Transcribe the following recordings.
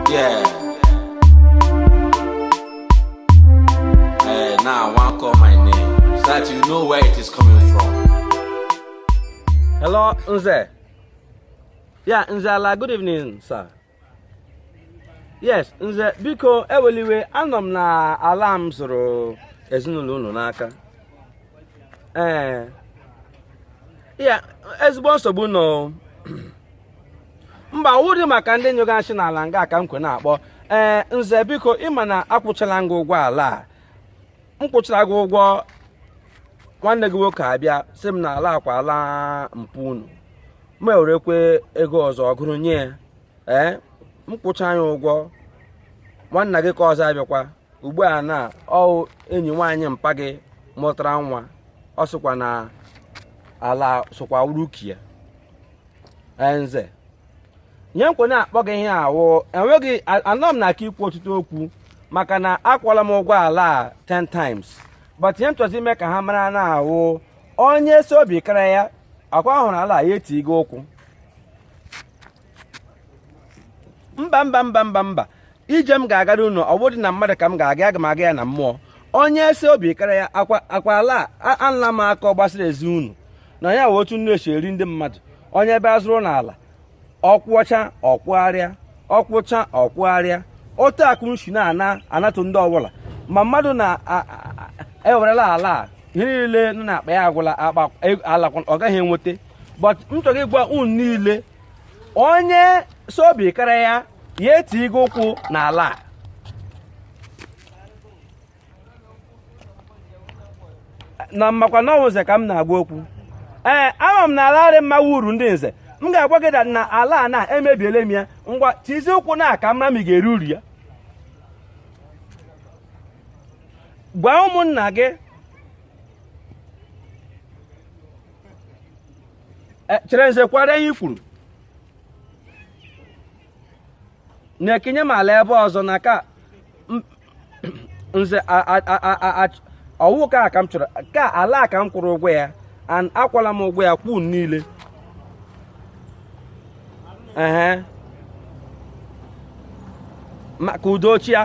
Yeah. Eh, now I want to call my name so that you know where it is coming from. Hello, Nze. Yeah, Nze ala, good evening, sir. Yes, Nze, biko ewela iwe anọ m na ala m zụrụ ezinụlọ unu n'aka. Ee. Eh. Yeah, ezigbo nsogbu nọ. mba wụdị maka ndị nyụga nshị n'ala nga ka m kwe na-akpọ ee nze biko ị ma na akwụchala m gị ụgwọ ala a m kwụchara gị ụgwọ nwanne gị nwoke abịa sị m na ala akwa ala mpa unu m ewerekwe ego ọzọ gụrụ nye ya ee m kwụcha ya ụgwọ nwanna gị ka ọzọ abịakwa ugbu a na ọ wụ enyi nwaanyị mpa gị mụtara nwa ọ sịkwa na ala sokwa wụrụ oke ya nze ihe m kwe na-akpọ gị ihe a wụ enweghị anọ m na aka ikwu ọtụtụ okwu maka na akwụọla m ụgwọ ala a 10 times but ihe m chọzi ime ka ha mara na awụ onye sị obi kara ya akwa hụrụ ala ya tige ụkwụ mba mba mba mba mba ije m ga-agara unu ọ wụdị na mmadụ ka m ga-aga aga m aga ya na mmụọ onye sị obi kara ya akwa akwa ala anụla m aka ọ gbasara ezi unu na ya wụ otu unu esi eri ndị mmadụ onye bịa zụrụ unu ala ọ kwụchaa ọ kwụgharịa ọ kwụchaa ọ kwụgharịa otu akụ nshi na-ana anatụ ndị ọbụla ma mmadụ na-ewerela e ala ihe niile nọ n'akpa ya agwụla akpa e, ala ọ gaghị enweta but m chọrọ ịgwa unu niile onye sị obi kara ya ya tige ụkwụ n'ala a na m makwa na ọ wụ nze ka m na-agwa okwu ee ama m na ala arị mma wụ uru ndị nze m ga-agwa gị na ala a na emebiele m ya ngwa tizi ụkwụ na ya ka m mara ị ga-eri uru ya gwa ụmụnna gị e, chere nze kwara ihe i kwuru na-ekenye m ala ebe ọzọ na ka nze ọ wụ ka ka m chọrọ ka ala ka m kwụrụ ụgwọ ya and akwụọla m ụgwọ ya kwụọ niile ehe ka udo chịa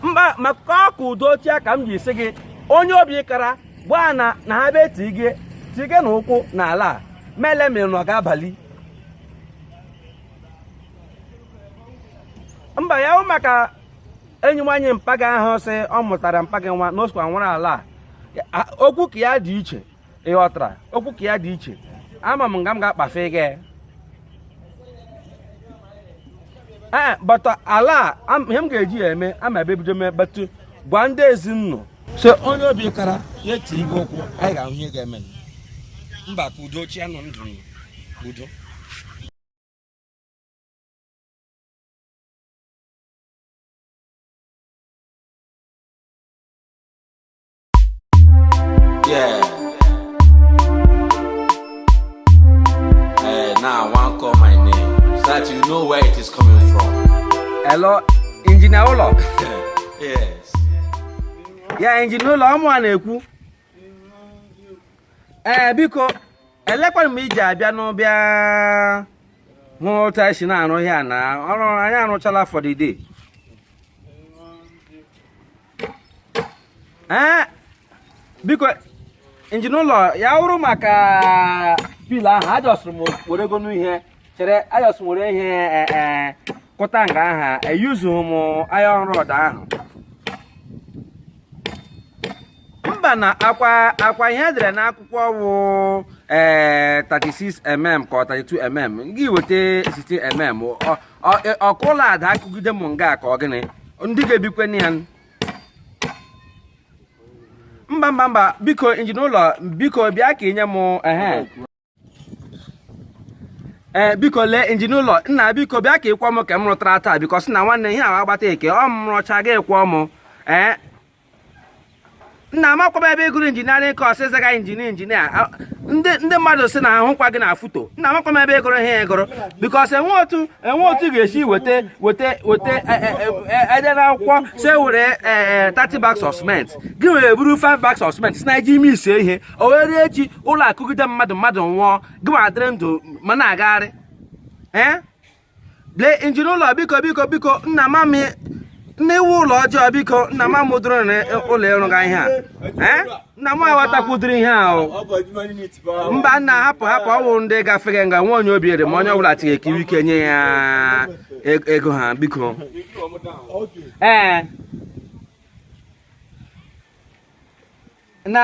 mba maka ka udo chịa ka m ji sị gị onye obi kara gwa ha na ha bịa tige tigenụ ụkwụ na ala a m ele ma unu ga-abali mba ya wụ maka enyi nwaanyị mpa gị ahụ sị ọ mụtara mpa gị nwa na o sokwa nwere ala a okwu ka ya dị iche ị ghọtara okwu ka ya dị iche ama m nga m ga-akpafe gị ee eh, but uh, ala a ihe m ga-eji ya eme ama ebe ebido mee batụ gwa ndị ezinụlọ so onye obi kara ya tiribe ụkwụ anyị ga-ahụ ihe ga-eme mba ka udo chịanụ ndụ udo Yeah. Hey, now I want call my name so that you know where it is coming from. Hello, Engineer Ụlọ. yes. Ya Engineer Ụlọ, ọ mụwa na-ekwu. Ee, eh, biko, elekwara m ị ji abịanụ bịa hụ otu anyị si na-arụ ihe a na ọrụ anyị arụchala for the day. ee biko Engineer Ụlọ ya wụrụ maka pillar ahụ ajọsụrụ m were ego n'ihe chere ajọsụrụ were ihe e, e, kụta nga ahụ eyuzughị m iron rod ahụ mba nna ọkwa ọkwa ihe e dere n'akwụkwọ wụ ee 36 mm ka ọ 32 mm gị weta 16 mm e, ọ ka ụlọ daa kụgide m nga ka ọ gịnị ndị ga-ebikwa na ya mba mba mba biko Engineer Ụlọ biko bịa ka ị nye m ehe ee eh, biko lee Engineer Ụlọ nna biko bịa ka ị kwụọ m nke m rụtara taa biko sị na nwanne ihe ahụ agbata eke ọ m rụcha gị akwụọ m ee eh, nna amakwa m ebe ị gụrụ engineering cos ị zaga engineer engineer ndị mmadụ sị na ahụkwa gị na foto nna amakwa m ebe ị gụrụ ihe ị gụrụ because enwe otu enwe otu ga-esi weta weta weta e dee, e, e, na akwụkwọ sị were 30 bags of cement gị were buru 5 bags of cement sị na i ji emesi ihe ọ wụrụ echi ụlọ akụgide mmadụ mmadụ nwụọ gị nwa adịrị ndụ ma na-agagharị ee lee Engineer Ụlọ biko biko biko nna ama m na i wu ụlọ ọjọọ biko nna ma m dụrụ na ụlọ ị rụga ihe a nna m aghọtakwudiri ihe ahụ mba nna hapụ hapụ ọ wụ ndị gafeghị nga nwa onye obere ma onye ọbụla tighị ekiri ike nye ya e-, ego ha biko ee na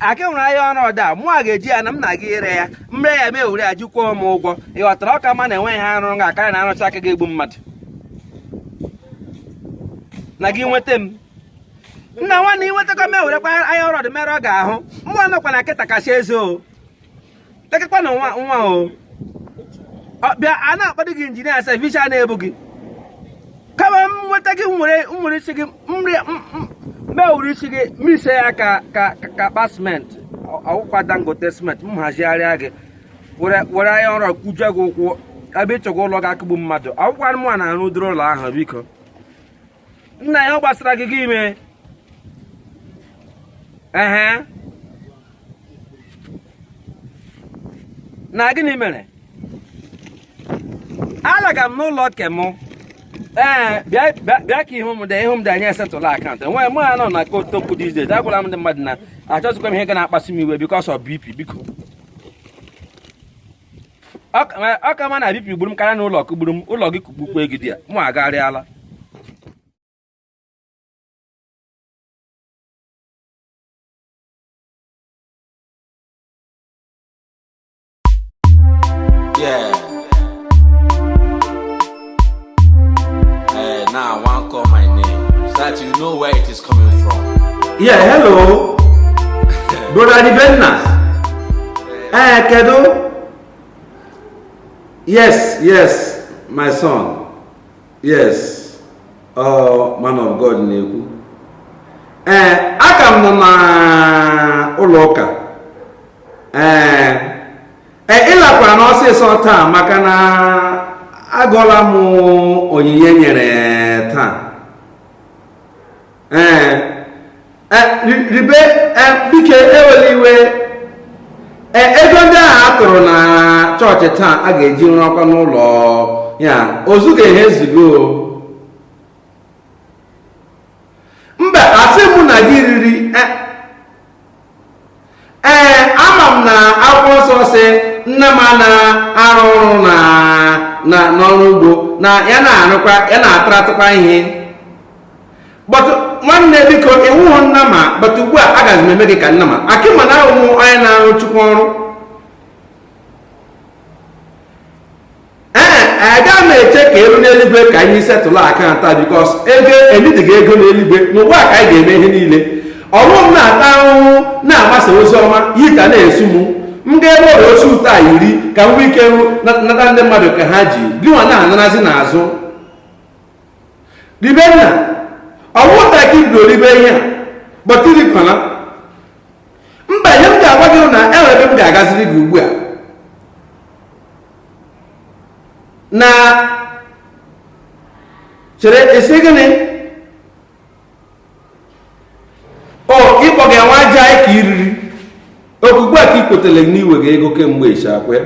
akị nwere iron rod mụ a ga-eji ya na m na-aga ire ya m ree ya m ewere ya ji kwụọ m ụgwọ ị ghọtara ọ ka mma na enweghị ihe arụga karịa na arụcha nke ga-egbu mmadụ na gị nweta m nna nwanne ị nwetakwa m e werekwa iron rod mere nga ahụ mụ anọkwa na nkịta kasị eze o lekekwanụ nwa nwa o bịa a na-akpọdị gị injinia sef iche a na-ebu gị ka m nweta gị nwere nwere isi gị m were isi gị mixie ya ka ka ka akpa siment ọ wụkwa dangote siment m hazigharịa gị were iron rod kụjie gị ụkwụ ebe ịchọgwa ụlọ ga-akụgbu mmadụ ọ wụkwa anụmanụ na-arụ ụdịrị ụlọ ahụ biko nna ya ọ gbasara gị gị ime ehe na gịnị mere alaga m n'ụlọ ke mụ ee bịa ka ihu m dị ihu m dị anyị esetụla account enweghị mụ anọ na kotokwu dị ize agwala m ndị mmadụ na achọzikwa m ihe ga na-akpasị m iwe because of bp biko ọ ka mma na bp gburu m karịa na ụlọ kụgburu m ụlọ gị kụgbukwa gị there mụ agharịala Eh, now I want call my name so that you know where it is coming from. Yeah, hello. Brother Dibenna. Eh, Kedo. Yes, yes, my son. Yes. Oh, man of God na-ekwu. Eh, aka m nọ na ụlọ ụka. Eh, e, ịlakwa na ọsịsọ taa maka na agụọla m onyinye e nyere taa ee e, ribe e, biko ewela iwe ego ndị ahụ a tụrụ na chọọchị taa a ga-eji rụọ ọkwa n'ụlọ ya ozuga ihe ezugo mba a sị mụ na gị riri ee ama m na akwụkwọ nsọ sị nnama na-arụ ọrụ na na n'ọrụ ugbo na ya na-arụkwa ya na-ataratụkwa ihe but nwanne m biko ị wụhụ nnama but ugbu a agaghị m eme gị ka nnama ka ị ma na ọ wụ onye na-arụ chukwu ọrụ ee aga m eche ka e luo n'eluigwe ka anyị setụlụ account because ego ebidighị ego n'eluigwe n'ụwa ka anyị ga-eme ihe niile ọ wụ m na-ata ahụhụ na-agbasa ozi ọma heat a na-esu m m ga-eburu suit a yiri ka m nwee ike nata ndị mmadụ ke ha ji gịnwa na-anarazi n'azụ ribe nna ọwụta ka ibdo ribe ihe a but irikwana mba ihe m ga-agwa gị na enwere ebe m ga-agaziri gị ugbu a na chere ị sị gịnị o ịkpọ gị nwa aja anyị ka i riri ọ kwa ugbu a ka ị kwetara na i wega ego kemgbe ịchakwe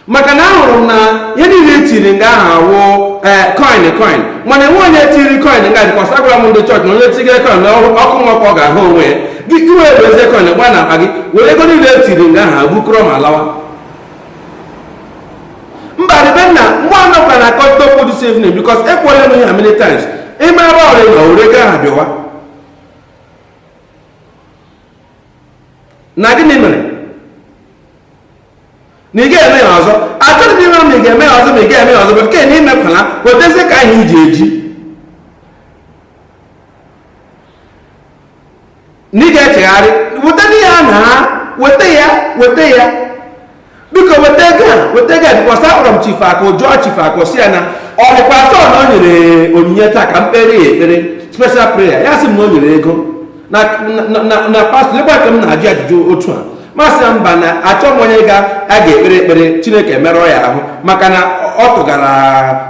maka na ahụrụ m na ihe niile etiri nga ahụ awụ eh, coin coin mana enwe onye tiri coin nga dịkwa agwara m ndị chọọchị na onye tiri coin na ọkụ mmụọ ka ọ ga-ahụ onwe ya gị wee buzie coin gbaa n'akpa gị were ego niile etiri nga ahụ abukọrọ ma lawa mba ribe nna mgbe a nọkwa na akọta okwu dị save name because ekwuole m ya many times ị ma ebe ọrịa na ore ego aha bịawa na gịnị mere na ị ga-eme ya ọzọ achọrọ m ime ma ị ga-eme ya ọzọ ma ị ga-eme ya ọzọ bụ nke na imekwala wetezie ka anyị ji eji na ị ga-echegharị weta ya na weta ya weta ya biko weta ego a weta ego a because akpọrọ m chifu akụ jụọ chifu akụ sị ya na ọ dịkwa atọ na o nyere onyinye taa ka m kpere ya ekpere special prayer ya sị m na o nyere ego na pastọ ebe ka m na-ajụ ajụjụ otu a m asị ya mba na achọ m onye ga a ga-ekpere ekpere chineke emerụọ ya ahụ maka na ọ tụgara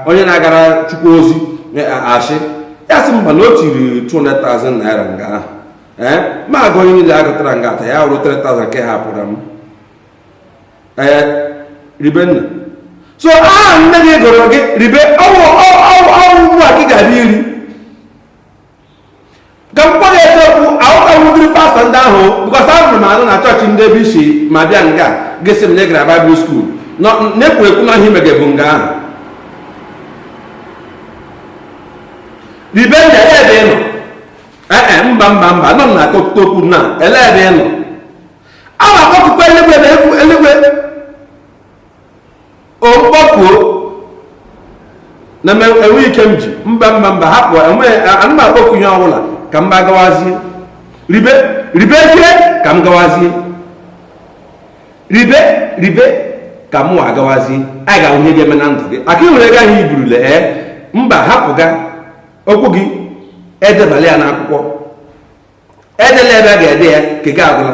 onye na-agara chukwu ozi e, asị ya sị mba na o tiri 200,000 naira nga ahụ ee eh, ma agụ onye niile agụtara nga ata ya wụrụ 3,000 nke ha pụrụ m ee eh, ribe nna so aha nne gị gụrụ gị ribe ọ wụ ọ wụ ugbu a gị ga-abịa iri ka m kpọrọ eziokwu ahụtawudiri pastọ ndị ahụ bụkọta ahụrụ m anụ na chọọchị ndị ebe isi ma bịa nga gị sị m na ị gara baịbụl skuul na-ekwu ekwu na ihe ị mege bụ nga ahụ ribe nna ele ebe ị nọ ee mba mba mba nọ na akọkụta okwu na ele ebe ị nọ a na-akpọkukwa eluigwe na egwu eluigwe okpọkuo na m enwe ike m ji mba mba mba hapụ anaghị m akpọku ihe ọbụla ka mụwa gawazie ribe ribezie ka m gawazie ribe ribe ka mụwa gawazie anyị ga-ahụ ihe ga-eme na ndụ gị aka ịhụrụ ego ahụ iburule ee eh? mba hapụga okwu gị edebala ya n'akwụkwọ edela ebe a ga-ede ya nke gị agwụla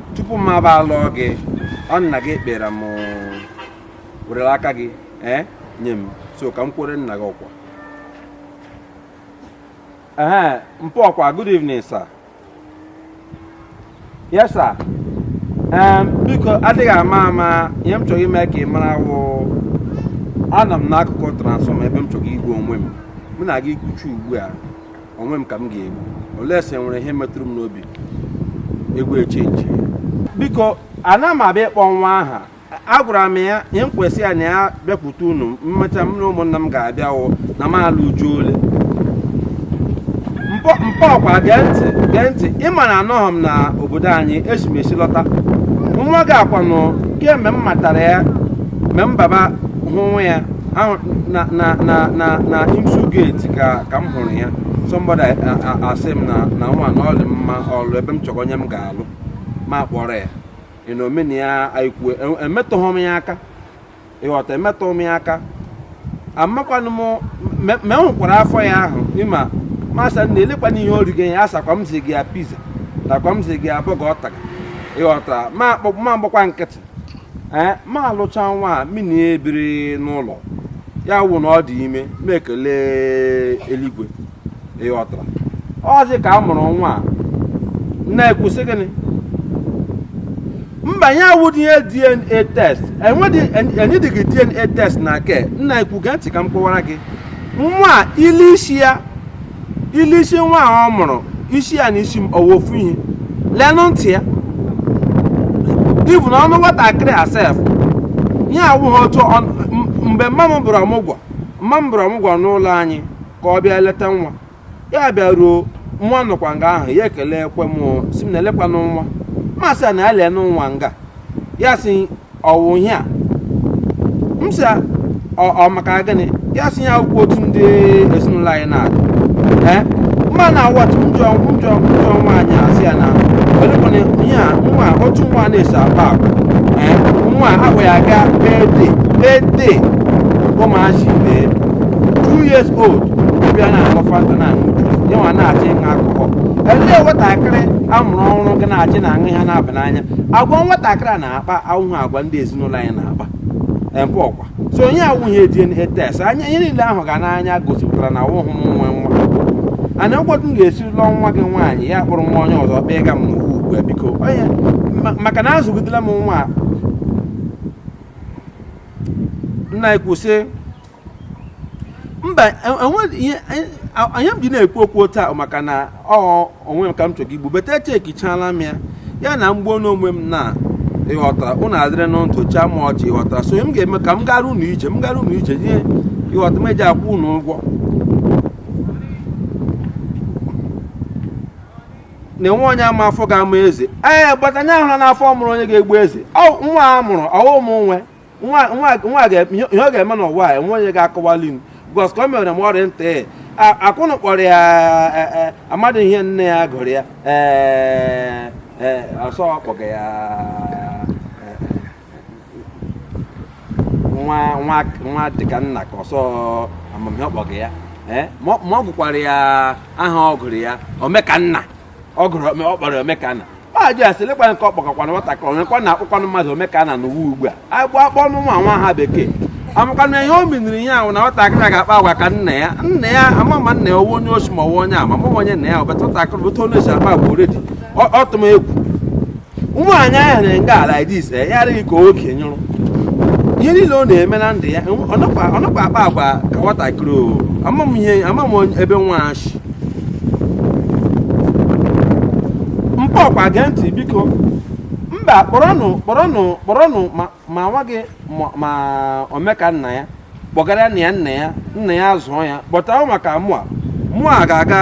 tupu m abịa alụ gị ọ nna gị kpere m werere aka gị ee eh, nye m so ka m kwuru nna gị okwu ee mpụ ọkwa good evening sir yes sir biko adịghị ama ama ihe m chọrọ ime ka ị mara wụ anọ m n'akụkụ transfọma ebe m chọrọ igbu onwe m mụ na gị kwuchaa ugbu a onwe m ka m ga-egbu olee sị nwere ihe metụrụ m n'obi egwu echenji biko ana m abịa ịkpọ nwa aha agwara m ya ihe m kwesị ya na ya bịakwute unu mmecha m na ụmụnna m ga-abịa wụ na m alụ uju ole mpọ mpọ ọkwa gee ntị gee ntị ị ma na anọghị m na obodo anyị esi m esi lọta nwa gị a kwanụ kemgbe m matara ya mgbe m baba hụwa ya na na na na na IMSU gate ka ka m hụrụ ya somebody asị m na na nwa na ọ dị mma ọlụ ebe m chọrọ onye m ga-alụ mụ akpọrọ ya ịna omena ya aikwu emetụghị m ya aka ịghọta emetụghị m ya aka amakwanụ m ma enwekwara afọ ya ahụ ịma mụ asị nna elekwanụ ihe o rige ya asịkwa m si gị ya pizza takwa m si gị ya burger ọ taga ịghọta ma akpọ mụ agbakwa nkịtị ee mụ alụcha nwa a mụ na ya ebiri n'ụlọ ya wụ na ọ dị ime mụ ekele eluigwe ịghọtara ọzi ka a mụrụ nwa a na-ekwusị gịnị mba ihe a awụdị ihe dna test enwedị enyedighi dna test na nke m na-ekwu gee ntị ka m kọwara gị nwa a i lee isi ya i lee isi nwa a ọ mụrụ isi ya na isi m awụhụ ofu ihe lenụ ntị ya even ọnụ nwatakịrị a sef ihe awụghị otu mgbe mama m bịara ọmụgwọ mama m bịara ọmụgwọ n'ụlọ anyị ka ọ bịa leta nwa ya bịaruo nwa nọkwa nga ahụ ya ekelekwa m sị m nna elekwanụ nwa mụ asị ya na ya lenụ nwa nga ya sị ọ wụ ihe a m sị ya, ọ ọ maka gịnị ya sị ihe a awụkwa otu ndị ezinụlọ anyị na-adị ee mma na what no no no nwaanyị asị ya na ọdịkwụna ihe a nwa otu nwa na-esi akpa agwa ee nwa ahụ ya aga birthday birthday ụmụazị ibe two years old bịa na-aṅụ fanta na-aṅụ juice ya nwa na-achọ ịṅụ alcohol elee nwatakịrị a mụrụ ọhụrụ gị na-achọ ịṅụ ihe na-aba n'anya agwa nwatakịrị a na na-akpa awụhụ agwa ndị ezinụlọ anyị na-akpa ebe ọkwa so ihe a awụghị DNA test anya ihe niile a hụga n'anya gosipụtara na awụhụ m nwe nwa and ụfọdụ m ga-esi lụọ nwa gị nwaanyị ya kpọrọ nwa onye ọzọ kpee ga m n'ugwu ugbu a biko onye ma- maka na azụgidela m nwa a. nna anyị kwụsị mba e- enwe- ihe- e- a- ihe m ji na-ekwu okwu otu a maka na ọ onwe m ka m chọrọ igbu but echekichala m ya ya na m gbuo onwe m na ịghọtara ụnụ adịrịnụ ndụ chịa m ọchị ịghọtara so m ga-eme ka m gara ụnụ ije m gara ụnụ ije ihe ịghọta m ji akwụ ụnụ ụgwọ na enwe onye ma afọ ga-amụ eze ee but anyị ahụla afọ mụrụ onye ga-egbu eze ọ nwa a mụrụ ọ wụ m nwe nwa ihe ọ ga-eme n'ụwa a enwe onye ga-akọwali m because ka o mere m ọrịa ntị akwụnụ kpọrọ ya e, e, amadị m ihe nne ya gụrụ ya ee e, ọ sị ọ kpọga ya nwa dịka nna ka ọ sị ama m ihe ọ kpọga ya ma ọ gụkwara ya aha ọ gụrụ ya omekanna ọ gụrụ ọ kpọrọ omekanna ajụ ya sị lekwa nke ọ kpọkọkwana nwatakịrị onyekwa na-akpọkwanụ mmadụ omekanna n'ụwa ugbu a anyị bi a kpọọnụ nwa nwa aha bekee amakwanụ m ihe o miniri ya ahụ na nwatakịrị a ga-akpa agwa ka nna ya nna ya ama ma nna ya ọ wụ onye oshi ma ọ wụ onye ama ma onye nna ya ọbata nwatakịrị otu onye si akpa agwa already ọ tụ m egwu nwaanyị ahụ na nga ala this eh, ya adịghị ka oke nyụrụ ihe niile ọ na-eme na ndụ ya ọ nakwa akpa agwa ka nwatakịrị o ama m ihe ama m ebe nwa shi mpa ọkwa gee ntị biko mba kpọrọnụ kpọrọnụ kpọrọnụ ma ma nwa gị ma omeka nna ya kpọgara ya nna ya nna ya zụọ ya but ahụ maka mụa mụa ga-aga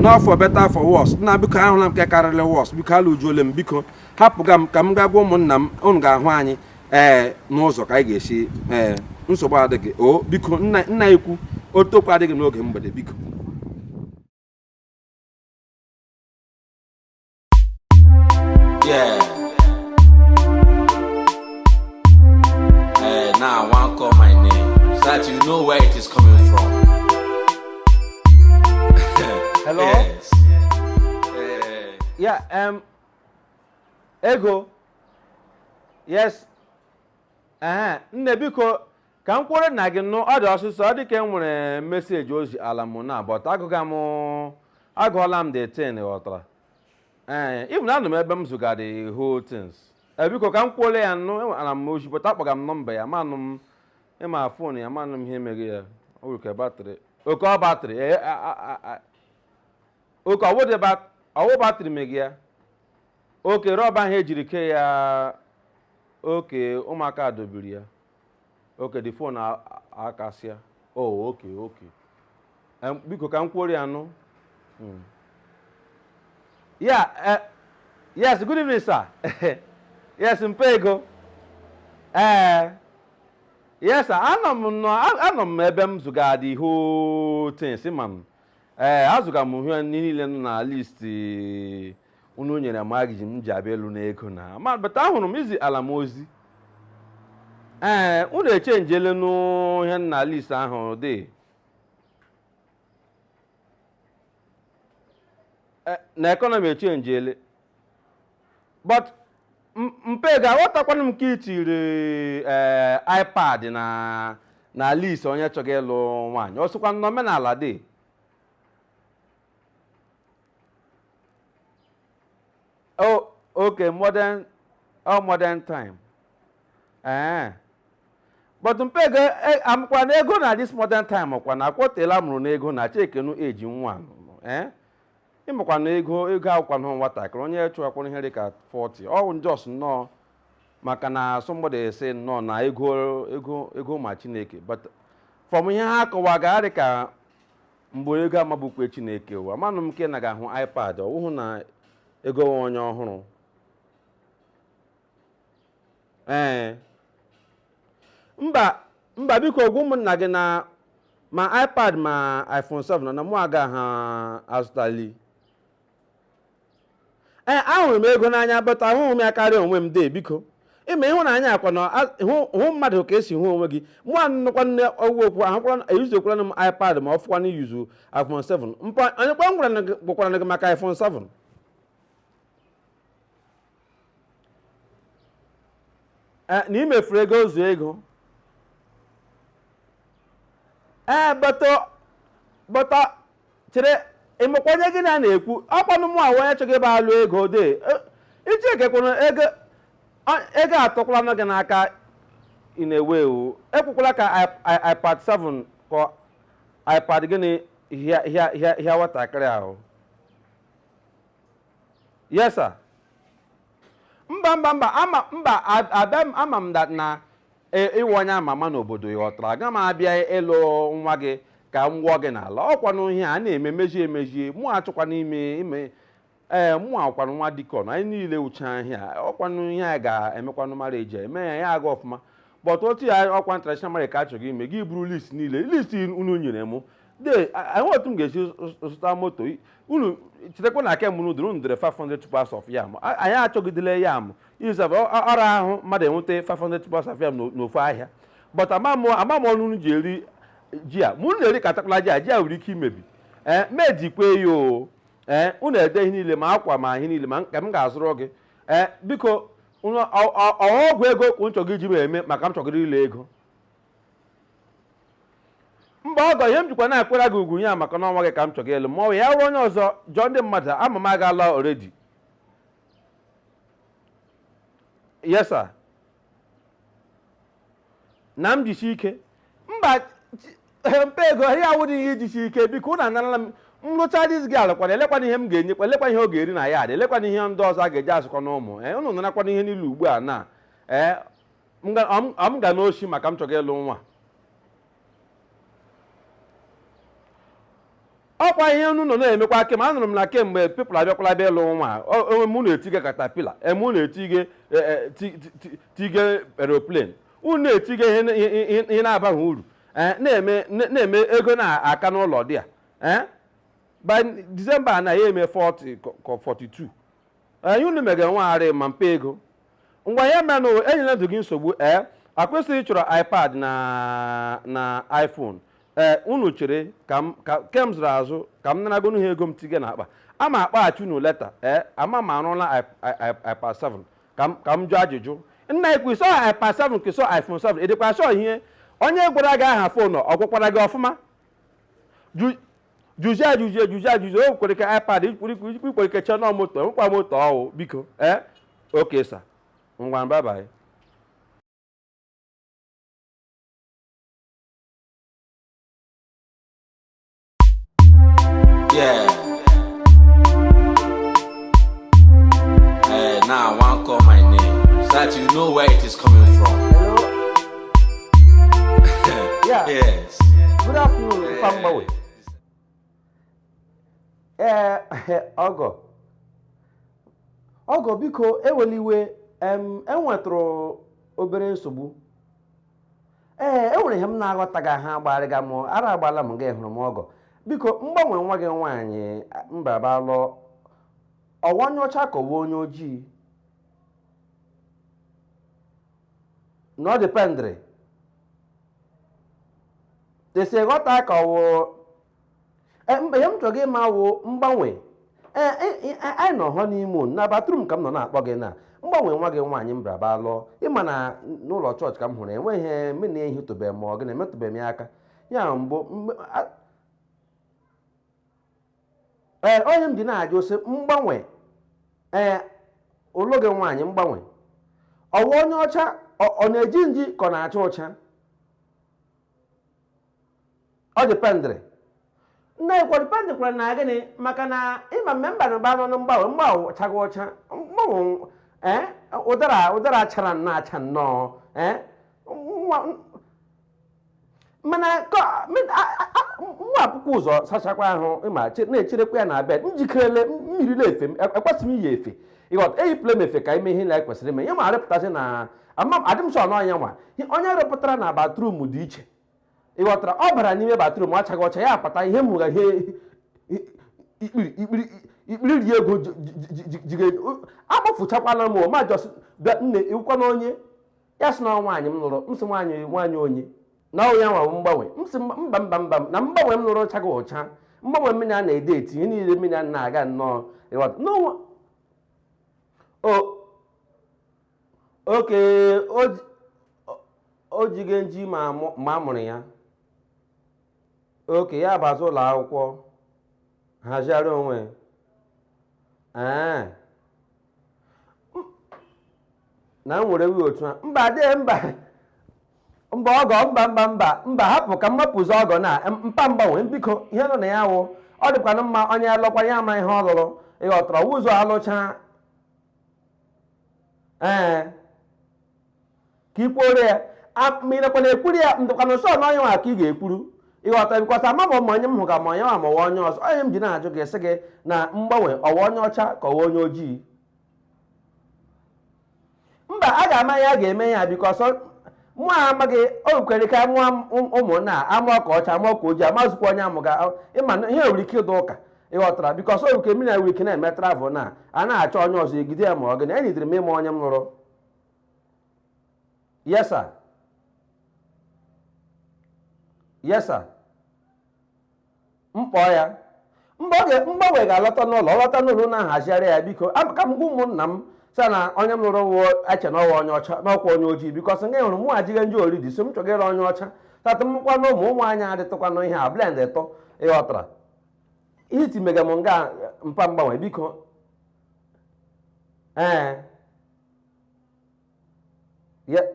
na for better for worse nna biko ahụla m nke karịrị worse biko alụjuole m biko hapụga m ka m gaa gwa ụmụnna m unu ga-ahụ anyị ee n'ụzọ ka anyị ga-esi ee nsogbu adịghị o biko nna na-ekwu ọtụtụ okwu adịghị n'oge mgbede biko Yeah. Eh, now I want call my name so that you know where it is coming from. Hello? Yes. Eh, ya em ego yes ee nne biko ka m kwuole nna gị nụ ọ dị ọsịsọ ọ dị ka e nwere message o ziala m na but agụga m agụọla m the thing ghọtara ee even anọ m ebe m zụga the whole things ee biko ka m kwuole ya nụ enwetara m ozi but akpọga m nọmba ya amanụ m ma phone ya amanụ m ihe mere ya o nwere ka batrị okay ọ batrị ee a- a- a- a- okay ọ wụ the bat- ọ wụ batrị mere ya okay rubber ahụ e jiri kee ya okay ụmụaka dọbiri ya okay the phone akasịa o okay okay Em, biko ka m kwuori ya nụ Mm. ya eh, yes good evening sir yes mpa ego ee yes sir anọ m nọ a- anọ m ebe m zụgara the whole thing si ma m ee azụga m ihe ndị niile nọ na list unu nyere m agiji m ji abịa elu n'ego na ma but ahụrụ m i ziala m ozi ee unu echenjele nụ ihe nọ na list ahụ dị na economy echenjele but mpe ga aghọtakwana m ka itiri ee eh, ipad na na list onye chọga ịlụ nwaanyị o sokwa n'omenala de oh okay modern oh modern time ee eh. but mpe ga eh, amụkwa na ego na this modern time ọkwa na akwọtela mụrụ n'ego na chekenu eji nwa ee ịmakwa na ego ego awụkwanụ nwatakịrị onye chụwakwara ihe dị ka 40 ọ just nnọọ maka na somebody sị nnọọ na ego ego ego ma chineke but from ihe ha kọwa ga-adị ka mgbe ego amabukwe chineke ụwa manụ m nke na ga-ahụ ipad ọ wụhụ na ego nwe onye ọ hụrụ ee mba mba biko gwa ụmụnna gị na ma ipad ma iphone 7 nọ na mụ agaha azụtali ee ahụrụ m ego n'anya but ahụghị m ya karịa onwe m dee biko ịma ịhụnanya ọkwa na a- hụ hụ mmadụ ka i si hụ onwe gị mụ anụkwa nne ọgwụ okwu ahụkwara eyuzekwara m ipad ma ọ fọkwa na iyuzu iphone 7 mpa onye kwa m gwara na gị- gwakwaranụ gị maka iphone 7 na imefuru ego zụọ ego ee bata bata chere ịmakwa onye gị na ya na-ekwu ọkwanụ mụ wụ onye chọga ịbịa lụ ego de iji ekekwuru ego ego atọkwalanụ gị n'aka ị na-ewe iwe ekwukwala ka ipad 7 ka ipad gịnị hịa nwatakịrị ahụ yes sir mba mba mba ama mba ab- abịa m ama m that na e- ịwụ onye ama ama n'obodo ị ghọtara aga m abịa ịlụ nwa gị ka m gwọ gị n'ala ọkwanụ ihe a na-eme mejie emejie mụ achọkwa n'ime ime ee mụ wụkwanụ nwa deacon anyị niile uche ahịa ọkwanụ ihe a ga-emekwa mara eji eme ya ya aga ọfụma but otu ya ọkwa traditional marriage ka a chọga ime gị buru list niile list unu nyere mụ de enwe otu m ga-esi zụta moto unu chetakwa na aka mụrụ dịrị unu dere 500 tubers of yam A- anyị achọgidele yam izab ọ ra ahụ mmadụ inweta 500 tubers of yam n'o- n'ofu ahịa but amamụ amamụ ọnụ unu ji eri ji a ma unu na-eri katakwala ji a ji a nwere ike imebi ee mejikwe ya o ee unu ede ihe niile ma akwa ma ihe niile ma nke m ga-azụrụ gị ee biko unu- ọ- ọ- ọ ọgwụ ego ka unu chọga iji m eme maka m chọgịrị ịlụ ego mba ọgọ ihe m jikwa na-akwara gị ugwu ya maka na ọ nwa gị ka m chọga ịlụ ma ọ bụ ya wụrụ onye ọzọ jụọ ndị mmadụ ama m agaala already yes sir na m jisi ike mba chi- mpa ego ihe a awụdị ihe ijisi ike biko ụnụ anarala m m rụcha diz gị alụkwana elekwana ihe m ga-enyekwa elekwana ihe ọ ga-eri na ya adị elekwana ihe ndị ọzọ a ga-eji azụkwa nwa ụnụ ee ụnụ narakwana ihe niile ugbu a na ee m ga- ọ m- ọ m ga n'oshi maka m chọga ịlụ nwa ọ kwa ihe unu nọ na-emekwa kem anụrụ m na kemgbe people abịakwala bịa ịlụ nwa o- o- unu na-etige caterpillar unu na-etige e, e, ti- ti- ti- tige aeroplane unu na-etige ihe na- ihe- ihe- ihe na-abaghị uru Eh, na-eme na- na-eme ego na-aka n'ụlọ dị a Eh? by December na ya eme 40 ka- ka 42 ee unu mega nwagharị ma mpe ego ngwa ya menụ enyela ndụ gị nsogbu ee ọ kwa ị sịrị ị chọrọ ipad na na iphone ee unu chere ka m ka ke m zụrụ azụ ka m naragonu ha ego m tiga n'akpa ama m akpọghachi unu later ee ama m arụla i- i- i- ipad 7 ka m ka m jụọ ajụjụ nna i kwu sọ ipad 7 ka sọ iphone 7 ị dịkwa sure ihe onye gwara gị aha phone ọ gwakwara gị ọfụma Ju- jụzie ajụzie jụzie ajụzi o kwere ka ipad ikwere ka chọnọ moto nwekwa moto ọ wụ biko ee okay sir ngwa bye bye Yeah. Hey, now I want to call my name so that you know where it is coming from. Yeah. Yes. Good afternoon, eh. Pa Mgbanwe. Ee, eh, ọgọ. Ọgọ biko eweliwe enwetụrụ obere nsogbu. Ee, enwere ihe m na-aghọtaghị ha agbarịga m ara agbala m gị hụrụ m ọgọ. Biko Mgbanwe nwa gị nwaanyị m bịa bịa lụọ ọ wụ onye ọcha ka ọ wụ onye ojii. na ọ dependịrị etu e si ghọta ka ọ wụ e, m- ihe m chọga ịma wụ Mgbanwe E, e, e, anyị nọ hụ n'ime ụlọ, na bathroom ka m nọ na-akpọ gị na Mgbanwe nwa gị nwaanyị m bịara bịa lụọ ị ma na n'ụlọ chọọchị ka m hụrụ nwa ahụ ị ma na ehitụbeghị m ọ gị na emetụbeghị m ya aka ya bụ mgbe- a- ee ihe m ji na-ajụ sị mgbanwe ee ologe nwaanyị mgbanwe ọ wụ onye ọcha ọ na-eji nji ka ọ na-acha ụcha ọ dependịrị na-ekwu dependịrị kwara na gịnị maka na ịma mme mba na mba nọ na mgbanwe mgbanwe chaga ọcha mgbanwe ụdara ụdara chara na-acha nnọọ ee mana nwa akwụkwọ ụzọ sachakwa ahụ m na-echerekwa ya na abịa njikerele mmiri na-efe ekwesị m iyi efe ịghọta eyipụla m efe ka ime ihe na ekwesịrị ime ihe ma arịpụtasị na adị m sure na onye nwa onye rịpụtara na bathroom dị iche ịghọtara ọ bara n'ime bathroom chaga ọcha ya apụta ihe m hụgha ihe ikpiri ikpiri ri ego jigide akpọfụchakwala m m ajụọ sị nne ị wụkwanụ onye ya sị na ọ nwaanyị m lụrụ m sị nwaanyị nwaanyị onye na ọ ya nwa wụ mgbanwe m sị mba mba mba mba na mgbanwe m lụrụ chaga ụcha mgbanwe mmiri a na-ede eti ihe niile mmiri a na-aga nnọọ ịghọta n'ụwa o okay o ji- o- o jiga nji ma amụ- ma a mụrụ ya okay ya bazi ụlọ akwụkwọ hazigharị onwe ee na m were wee otu a mba adịghị mba mba ọgọ mba mba mba mba hapụ ka m hapụzi ọgọ na mpa mgbanwe biko ihe nọ na ya wụ ọ dịkwanụ mma onye alụkwa ya ama ihe ọ lụrụ ịghọtara ụzọ alụcha ee ka i kwuoro ya ma ị nakwa na-ekwuru ya m dịkwanụ sure na onye nwa ka ị ga-ekwuru ịghọta because ama ma onye m hụ ka ma onye nwa ma ọ wụ onye ọzọ ihe m ji na-ajụ gị sị gị na mgbanwe ọ wụ onye ọcha ka ọ wụ onye ojii mba a ga-ama ya a ga-eme ya because mụ amaghị o kwere ka mụọ ụmụnna a amụọ ka ọcha amụọ ka ojii amazụkwa onye a mụga ịma na ihe nwere ike ịdị ụka ịghọtara because ọ nke mmiri nwere ike na-eme travel na a na-achọ onye ọzọ ejide ya ma ọ gị na enyidere m ịma onye m lụrụ Yes, sir. Yes, sir. M kpọọ ya. Mgbanwe ga-alọta n'ụlọ ọ lọta n'ụlọ na-ahazigharị ya biko ka m gwa ụmụnna m sị na onye m lụrụ wụọ eche na ọ wụ onye ọcha n'ọkwa onye ojii because nga hụrụ mụ ejiga nji already so m chọgara onye ọcha tata mkwa na ụmụ ụmụ anyị adịtụkwanụ ihe a blendịtụ ịghọtara ihe iti mega m nga mpa mgbanwe biko ee Yeah.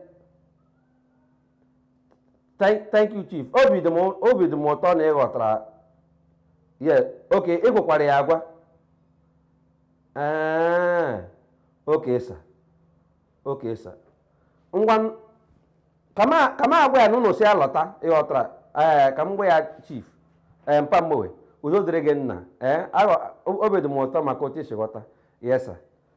Thank, thank you chief obi dị m obi dị m ụtọ na ị ghọtara yeah okay ị gwakwara ya agwa ee okay sir okay sir ngwa n- ka m ka m gwa ya na unu sị ya lọta ị ghọtara ee ka m gwa ya chief ee mpa mgbewe udo dịrị gị nna ee aghọ- obi dị m ụtọ maka otu i si ghọta yes sir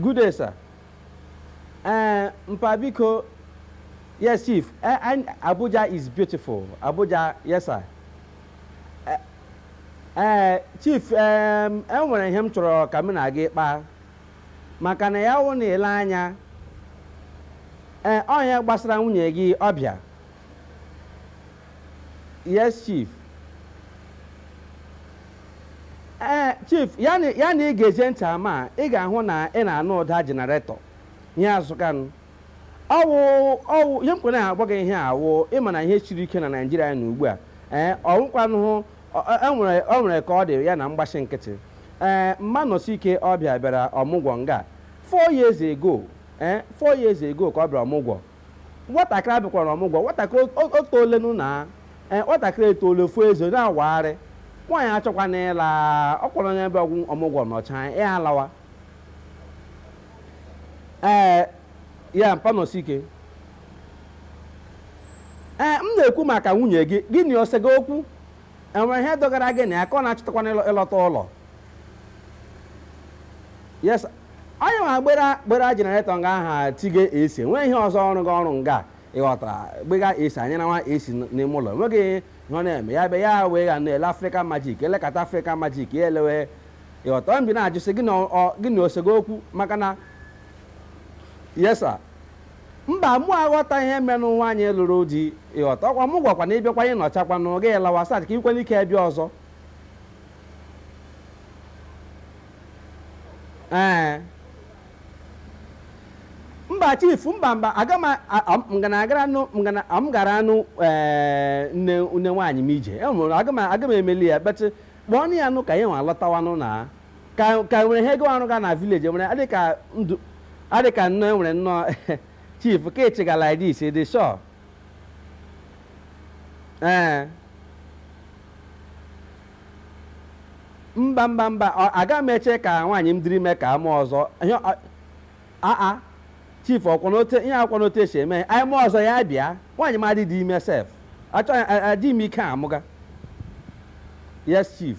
Good day, sir. Uh, Mpa biko, yes, Chief. Uh, and Abuja is beautiful. Abuja, yes, sir. Uh, uh, Chief, um, enwere ihe m chọrọ ka m na gị kpaa maka na ya wụ na i lee anya ee ọ n'ihe gbasara nwunye gị ọ bịa yes chief ee chief ya na ya na ị ga-ege ntị ama a, ị ga-ahụ na ị na-anụ ụda jenaretọ ihe azụkanụ ọ wụ ọ wụ ihe mkpere na-agwa gị ihe a wụ ị ma na ihe siri ike na naijiria na ugbu a ee ọ wụkwanụhụ enwere ọ nwere ka ọ dị ya na m gbachi nkịtị ee mma Nọsike ọ bịa bịara ọmụgwọ nga four years ago ee four years ago ka ọ bịara ọmụgwọ Nwatakịrị a bịakwara ọmụgwọ, nwatakịrị o- o toolenụ na ee, nwatakịrị etoole fuo eze na-awagharị, nwaanyị achọkwana ịla, ọ kwa onye bịa ọmụgwọ nọcha ya alawa. Ee, ya mpa Nọsike. Ee, m na-ekwu maka nwunye gị, gị na ya ọ sega okwu? enwere ihe dogara gị na ya ka ọ na-achọtakwana ịlọ- ịlọta ụlọ yes onye ma gbara gbara jenaretọ nga aha tige AC nwee ihe ọzọ ọrụ gị ọrụ nga ị ghọtara gbaga AC anyị na nwa AC n- n'ime ụlọ nweghị ihe ọ na-eme ya be ya wee ga na-ele Africa Magic elekọta Africa Magic ya elewe ị ghọta ọ m ji na-ajụsị gị na ọ- ọ- gị na o sego okwu maka na yes sir Mba, mụ aghọtaghị ihe merenụ nwaanyị lụrụ di, ị ghọta? Ọkwa mụ gwakwa na ị bịakwa ị nọchakwanụ, gị lawa so that ka i nwee ike bịa ọzọ. Ee. Mba chief, mba mba, aga m ngana agara nụ ngana m gara anụ ee nne nne nwaanyị m ije. E nwere aga m aga m emeli ya, but kpọọnụ ya nụ ka ya nwa lọtawanụ na. ka ka nwere ihe ga ọ rụga na village nwere adị ka ndụ adị ka nnọọ enwere nnọọ chief ka ị chịga like this ị dị sure ee mba mba mba ọ- aga m eche ka nwaanyị m dịrị ime ka a mụọ ọzọ ihe ọ- aa chief ọ kwanụ otu e ihe a kwanụ otu e si eme anyị mụọ ọzọ ya bịa nwaanyị m adịdị ime sef achọghị adị m ike amụga yes chief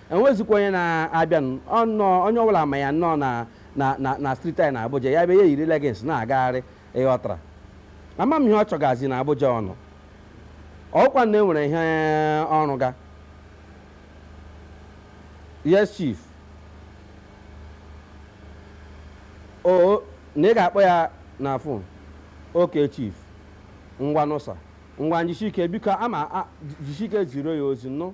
enwezikwa onye na-abịanụ ọnọọ onye ọbụla ma ya nnọọ na na na na striti anyị na Abuja ya bịa ya eyiri legins na-agagharị ịghọtara ama m ihe ọ chọgazi na Abuja ọ nọ ọ wụkwa na enwere ihe ọ rụga yes chief o na ị ga-akpọ ya na fon ok chief ngwanụ sa ngwanụ jisike biko ama jisike ziri ya ozi nụ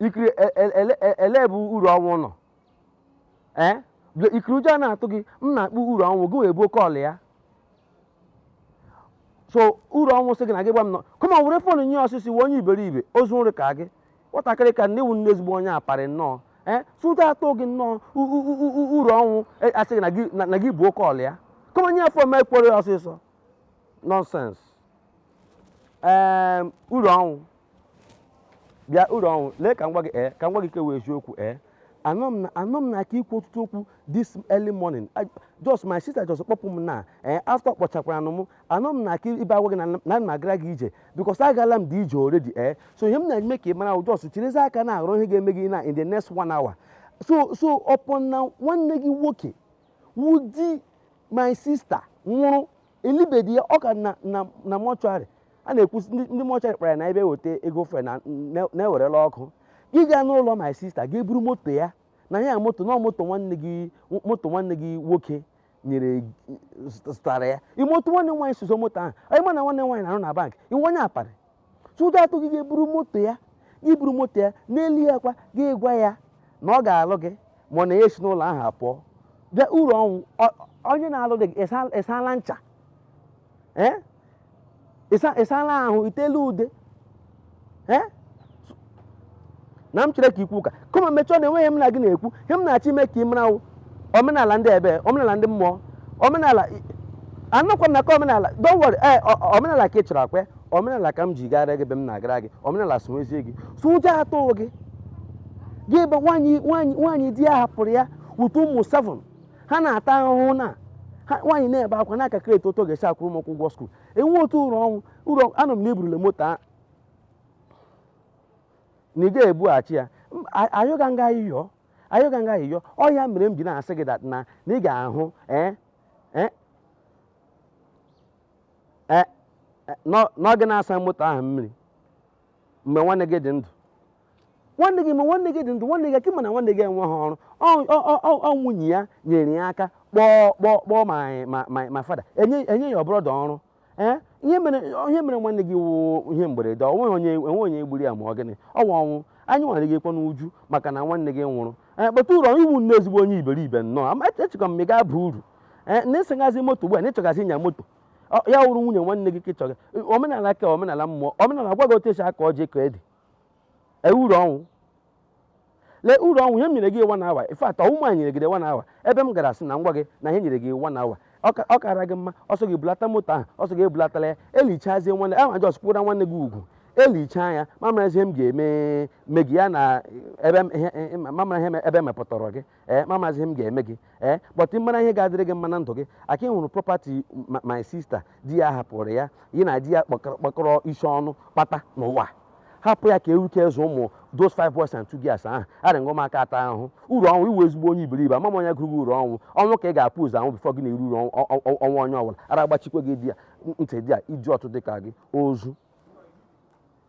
ikiri e- e- ele e- ele bụ uru ọnwụ nọ ee bịa- ikiri ụjọ a na-atụ gị m na-akpọ uru ọnwụ gị wee buo kọl ya so uru ọnwụ sị gị na gị gwa m nọ kama ọ were fon nye ya ọsịsị wee onye iberibe ozu nri ka gị nwatakịrị ka na ị wụ nnọọ ezigbo onye aparị nnọọ ee sụta atụ gị nnọọ u- u- u- u- uru ọnwụ e- asị gị na gị- na- na gị buo kọl ya kama nye ya fon ma ekwere ya ọsịsọ nọnsens ee uru ọnwụ bịa uru ọnwụ lee ka m gwa gị ee ka m gwa gị nke wụ eziokwu ee anọ m na anọ m na aka ikwu ọtụtụ okwu this early morning I- just my sister just kpọpụ m na ee after kpọchakwara nụ m anọ m na aka ibe agwa gị na na ana m agara gị ije because agala m dị ije already ee so ihe m na-eme ka ị mara just chirizi aka na-arụ ihe ga-eme gị na in the next one hour so so upon na nwanne gị nwoke wụ di my sister nwụrụ elibedị ya ọ ka nọ na na mọchụarị a na-ekwusi ndị ndị mọchụarị kpara ya na ebe eweta ego fuel na na- na-ewerela ọkụ gị gaa n'ụlọ my sister gị buru moto ya na ya moto na moto nwanne gị moto nwanne gị nwoke nyere zụtara ya moto nwanne nwaanyị sọsọ moto ahụ ị ma na nwanne nwaanyị na-arụ na bank ị wụ onye aparị Tụda atụ gị ga-eburu moto ya gị buru moto ya n'elu ya kwa gị gwa ya na ọ ga-alụ gị ma ọ na ya esi n'ụlọ ahụ apụọ bịa uru ọnwụ onye na-alụdị gị ị sala ncha ị sala ahụ i tela ude na m chere ka ikwu ụka kama mechọọ na enweghị m na gị na-ekwu ihe m na-achọ ime ka ị mara wụ omenala ndị ebe omenala ndị mmụọ omenala anọkwa m na ka omenala don't worry ee o- o- omenala ka ị chọrọ ọkwa omenala ka m ji gara gị ebe m na-agara gị omenala sụnwezie gị so ụjọ atụghị gị gị ebe nwaanyị nwaanyị nwaanyị di ya hapụrụ ya with ụmụ seven ha na-ata ahụhụ na ha nwaanyị na-ebe akwa na-akakịrị etu otu ọ ga-esi akwụrụ ụmụaka ụgwọ skuul enwe otu uru ọnwụ ụlọ anọ m na eburule moto a na ị ga-ebughachi ya M- a- ayọga m gị ayịyọ ayọga m gị ayịyọ ọ ya mere m ji na-asị gị that na na ị ga-ahụ eh, eh, eh, eh, n'ọ- na ọ gị na-asa moto ahụ mmiri mgbe nwanne gị dị ndụ nwanne gị ma nwanne gị dị ndụ nwanne gị ọkwa ị ma na nwanne gị enweghị ọrụ Ọ- ọ- ọ- ọ- ọ nwunye ya nyere ya aka kpọọ kpọọ kpọọ ma ma ma fada enye enye ya ọbụrụ ọdụ ọrụ ee ihe mere ihe mere nwanne gị wụ ihe mberede ọ nweghị onye enweghị onye gburu ya ma ọ gịnị ọ wụ ọnwụ anyị nwere gị kwa n'uju maka na nwanne gị nwụrụ ee but uru ọnwụ ị wụ nnọọ ezigbo onye iberibe nnọọ ama echekwa m ma ị ga-aba uru ee na ịsagazi moto ugbu a na ịchọgazi ịnya moto Ọ- ya wụrụ nwunye nwanne gị ka ị chọga omenala ka omenala mmụọ omenala gwa gị otu esi aka ọjị ka ede ee uru ọnwụ Lee uru ọnwụ, ihe m nyere gị one hour, in fact ọ wụ mụa nyere gị the one hour, ebe m gara sị na m gwa gị na ihe e nyere gị one hour, ọ ka- ọ kaara gị mma ọ sọ gị bulata moto ahụ ọ sọ gị ebulatala ya elichazie nwanne ahụ a just kwụra nwanne gị ugwu elichaa ya m amara ihe m ga-eme me gị ya na ebe m- ihe- ihe- m amara ihe me- ebe e mepụtara gị ee ma amaghịzi ihe m ga-eme gị ee but ị mara ihe ga-adịrị gị mma na ndụ gị aka ị hụrụ property ma- my sister di ya hapụrụ ya ya na di ya kpakọrọ kpakọrọ isi ọnụ kpata n'ụwa hapụ ya ka ewuke zụọ ụmụ those five boys and two girls ahụ arị ngwa maka ata ahụhụ uru ọnwụ ị wụ ezigbo onye iberibe ama m onye gụrụ gị uru ọnwụ ọnwụ ka ị ga-ebu ụzọ anwụ before gị na-eru uru ọnwụ- ọ- ọ- ọnwụ onye ọbụla ara agbachikwa gị di ya ntị di ya ịdị otu dị ka gị ozu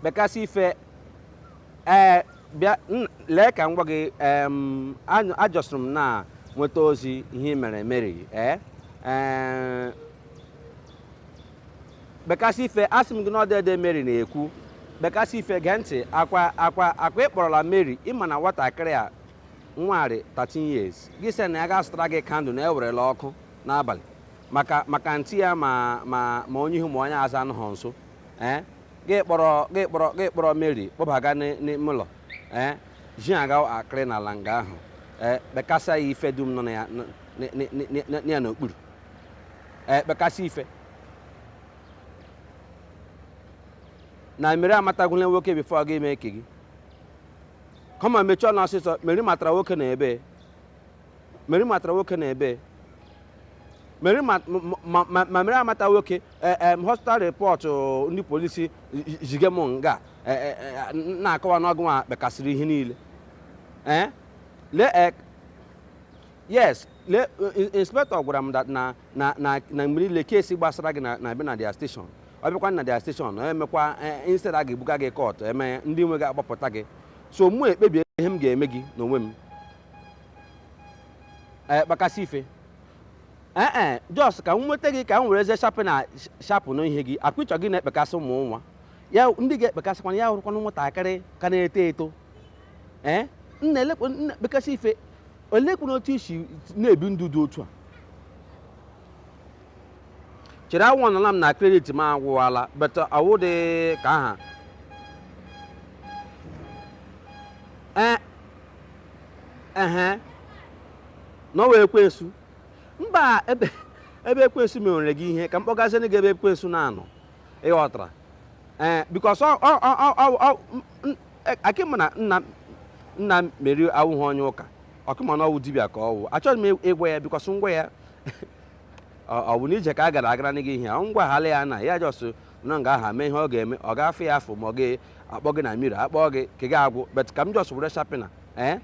kpekasị ife ee bịa lee ka m gwa gị ajọsụrụ m na-enweta ozi ihe ị mere mary ee kpekasị ife asị m gị na ọ dede mary na-ekwu kpekasị ife gee ntị akwa akwa akwa ị kpọrọla mary ị ma na nwatakịrị a nwa rị 13 years gị sị na ya gaa zụtara gị candle na e werela ọkụ n'abalị maka maka ntị ya ma ma ma onye ihu ma onye azụ anụghị nso ee gị kpọrọ gị kpọrọ gị kpọrọ mary kpọbaga n'ị- n'ime ụlọ ee ji aga akịrị n'ala nga ahụ ee kpekasịa ya ife dum nọ na ya n- n- n- n- n- na ya n'okpuru ee kpekasị ife na mary amatagwula nwoke before ọ ga-eme ike gị come on mechie ọnụ ọsịsọ mary matara nwoke n'ebee Mary matara nwoke n'ebee Mary ma ma- ma- ma Mary amata nwoke eh, eh, hospital report oh, ndị polisi zige m nga eh, eh, eh, na-akọwa na ọ gị nwa kpekasịrị ihe niile Eh? lee eh, yes le in- inspector gwara m that na na na na mgbe niile case gbasara gị na na-abịa na their station ọ bịakwa na their station ọ emekwa eh, instead a ga-ebuga gị court eme ndị nwe gị agbapụta gị so mụ ekpebie ihe m ga-eme gị n'onwe m ee eh, kpekasị ife ee eh, eh, just ka m nweta gị ka m were eze shapụ na shapụ na ihe gị akpịchọ gị na-ekpekasị ụmụ nwaanyị ndị ị ga-ekpekasịkwana ya wụrụkwana nwatakịrị ka na-eto eto ee nna kpekasị ife olekwanụ otu i si na-ebi ndụ dị otu a chere ahụnala m na credit m agwụwala but awụ dị ka aha ehe na ọ wụ ekwensu mba ebe ebe ekwensu mewere gị ihe ka m kpọgaziere gị ebe ekwensu na-anọ ị ghọtara ee because akịma na nna nna Meri awụghị onye ụka ọkụma na ọ wụ dibịa ka ọ wụ achọghị m ịgwa ya because m gwa ya ọ bụ n'ije ka a gara agara gị ihe ọ ngwa hala ya na ya just nọ nga ahụ mee ihe ọ ga-eme ọ ga-afụ ya afọ ma ọ gị akpọ gị na mmiri akpọ gị ike ga-agwụ but ka m just were sharpener ee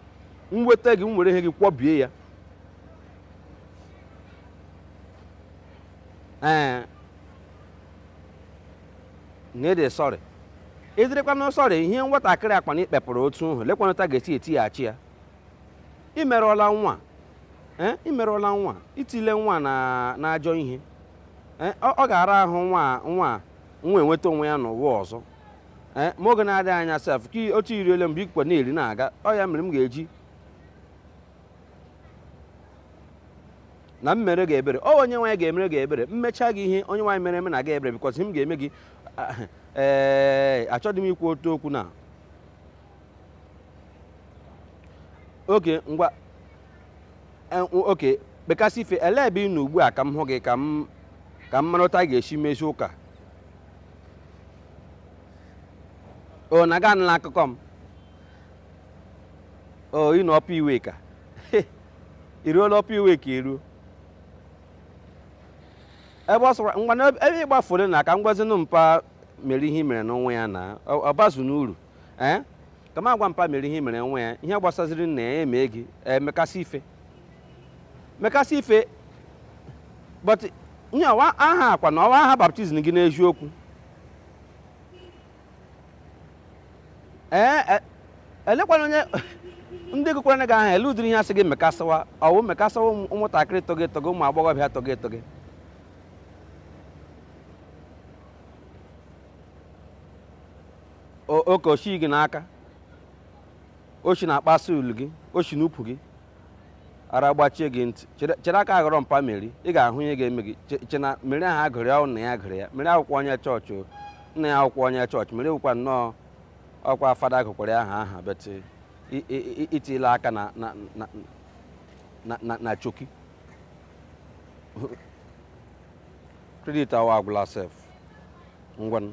m nweta gị m were ihe gị kwọbie ya ee na ị dị sorry ị dịrịkwanụ sorry ihe nwatakịrị a kwanụ i kpepụrụ otu ahụ lekwanụ otu a ga-esi etighachi ya ị merụọla nwa eh, ị merụọla nwa i tiele nwa na- n'ajọ ihe Eh, ọ ọ ga-ara ahụ nwa nwa nwa enweta onwe ya n'ụwa ọzọ Eh, ma oge na-adịghị anya sef ka i- otu i riele mgbe ikwe na-eri na-aga ọ ya mere m ga-eji na m mere gị ebere ọ onye nwaanyị ga-emere gị ebere m mecha gị ihe onye nwaanyị mere emena gị ebere because ihe m ga-eme gị ee achọghị m ikwu otu okwu na okay ngwa eh, okay mekasị ife ele ebe ị nọ ugbu a ka m hụ gị ka m ka m mara otu a ga-esi mezie ụka o na ị ga-anụla akụkọ m o ị nọ Upper Iweka i ruola Upper Iweka i ruo ebe ọ sọkwara ngwa na ebe ị gbafuru na ka m gwazinụ mpa Meri ihe i merenụ nwa ya na ọ ọ bazu n'uru ee eh? ka m agwa mpa Meri ihe i mere nwa ya ihe gbasaziri nna ya emee gị mekasị eh, ife mekasị ife but ihe wụ aha a kwanụ ọ wụ aha baptism gị n'eziokwu ee eh, elekwanụ onye ndị gụkwara gị aha ele ụdịrị ihe a sị gị mekasịwa ọ wụ mekasịwa ụmụntakịrị tọgị tọgị ụmụ agbọghọbịa tọgị tọgị oke oshi gị n'aka oshi na-akpasu ulu gị oshi n'ukwu gị ara gbachie gị ntị chere aka ghọrọ mpa Meri ị ga-ahụ ihe ga-eme gị che na Meri aha a gụrụ ya nna ya gụrụ ya Meri wụkwa onye chọọchị nna ya wụkwa onye chọọchị Meri wụkwa nnọọ ọ kwa fada gụkwara ya aha aha but i tiele aka na choki credit a wa agwụla sef ngwanụ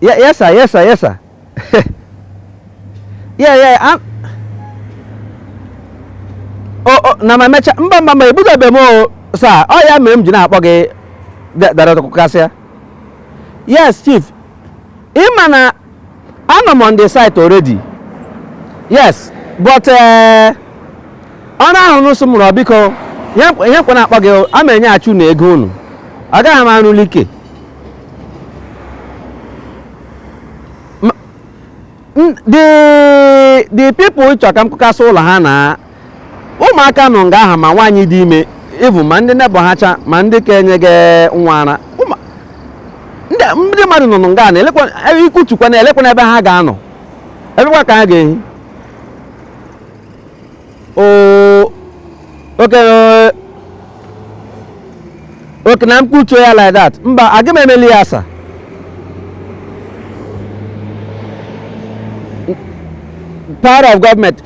Yeah, yes, sir. Yes, sir. Yes, sir. yeah, yeah. I'm... Oh, oh, na ma mecha mba mba mba ebugabe m o sir ọ ya mere m ji na-akpọ gị dara ọtụkụ kasịa yes chief ị ma na Anọ m on the site already. Yes, but eh, ọrụ ahụ unu sị mụ rụọ biko ihe m- ihe m kwo na-akpọ gị a ma enyeghachi unu ego unu agaghị m arụli ike M- n- the the people chọrọ ka m kụkasị ụlọ ha na ụmụaka nọ nga aha ma nwaanyị dị ime even ma ndị nebọ ha cha ma ndị ka enyega nwa ara ndị mmadụ nọ nọ nga na elekwa ikutukwa na elekwanụ ebe ha ga-anọ ebekwa ka ha ga-ehi okenye okay na m kutuo ya like that mba aga m emeli ya a sị power of government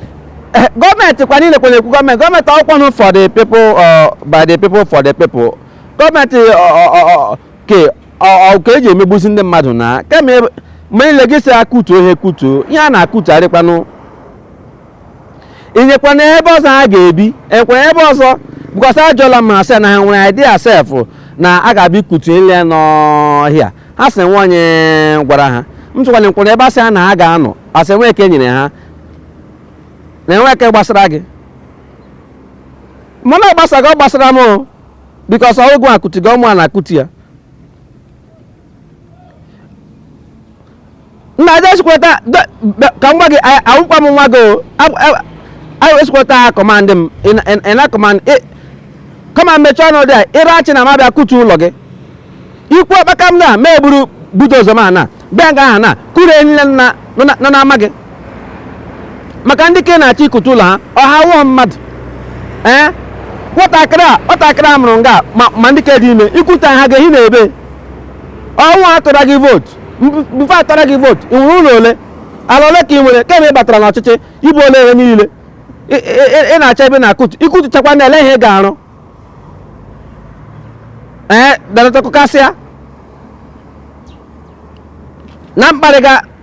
eh, gọọmenti kwa niile kwere ekwu gọọmenti gọọmenti ọkwanụ for the people uh, by the people for the people gọọmenti ka eji emegbuzi ndị mmadụ na kemgbe niile gị si akutuo ihe kutuo ihe a na-akutugharịkwanụ inyekwana ebe ọzọ ha ga-ebi enyekwara ebe ọzọ because ajụọla m ha sị na ha nwere idea sef na a ga-abịa ikutu ile ya n'ọhịa ha sị enwe onye gwara ha m sịkwanụ ngwa ebe asị ha na ha ga-anọ ha sị enwe eke nyere ha na enwe eke gbasara gị mana ọ gbasara gị ọ gbasara m o because ọ wụ gị akụtuga ọ mụa na-akụtu ya nna aja esikweta ka m gwa gị awụkwa m nwa gị o anyị esikweta ha command m ị na command kwa m mechie ọnụ there ịra achị na m abịa kutu ụlọ gị ikwuo kpakam na m eburu bulldozer m abịa nga aha na kụrie ihe niile nọ n'ama gị maka ndị ke na-achọ ikutu ụlọ ha ọ ha awụghị mmadụ ee nwatakịrị a nwatakịrị a mụrụ nga ma ma ndị ke dị ime ikutuo ha ga-ehi na ebe ọ wụ ha tụra gị vootu mgbe atụra gị vootu ị nwere ụlọ ole ala ole ka ị nwere kemgbe ị batara n'ọchịchị ibuola ihe niile ị- ị- ị- ị na-achọ ebe na-akụtu ikutuchakwanụ ele ihe ị ga-arụ ee danatakụkasịa na mkparịga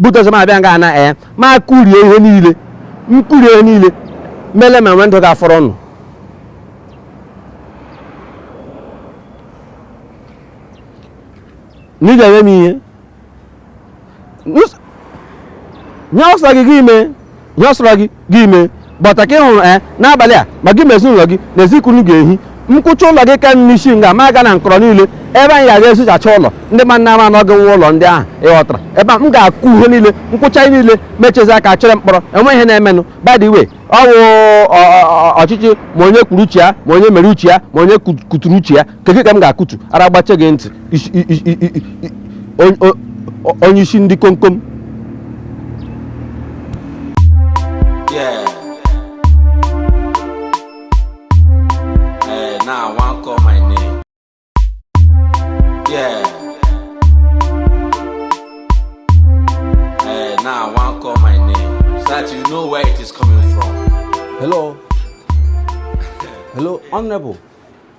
bulldozer m abịa nga aha ee ma kụrie ihe niile m kụrie ihe niile m lee ma nwe ndị ga-afọrọ unu na ị ga-eme m ihe Nus- ihe ọ sọ gị gị mee ihe ọ sọrọ gị gị mee but ka ị hụrụ ee n'abalị a ma gị ma ezinụlọ gị n'ezi ka unu ga-ehi m kụchaa ụlọ gị ka m esi nga m aga na nkọrọ niile ebe anyị ga-aga ezochacha ụlọ ndị mmadụ ama na ọ gị nwe ụlọ ndị ahụ ịghọtara ebe a m ga-akụ ihe niile m kụchaa ihe niile mechezi aka chere mkpọrọ enwe ihe na-emenụ by the way ọ wụ ọ- ọ- ọ- ọchịchị ma onye kwuru uche ya ma onye mere uche ya ma onye ku- kuturu uche ya kedu ka m ga-akụtu ara gbache gị ntị onye ishi ndị komkom Honorable.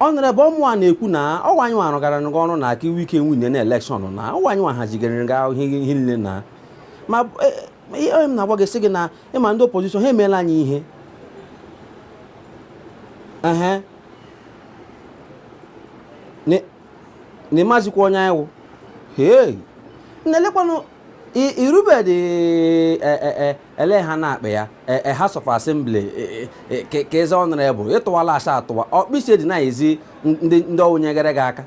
Honorable ọ mụwa na-ekwu na ọ wụ anyị nwa rụgara gị ọrụ na ka i wi- ka i winie na election na ọ wụ anyị nwa hazigara gị ahụ ihe ihe niile na ma e, e, ihe m na-agwa gị sị gị na ị ma ndị opposition ha emeela anyị ihe ehe Ni- na ịmazikwa onye anyị wụ hei na-elekwanụ i- irubedị e- e- e- ele ihe a na-akpọ ya e, e, House of Assembly e, ka eze Honorable ị tụwala asa atụwa ọkpịsị dị na-ezi ndị ọ wụ nyegara gị aka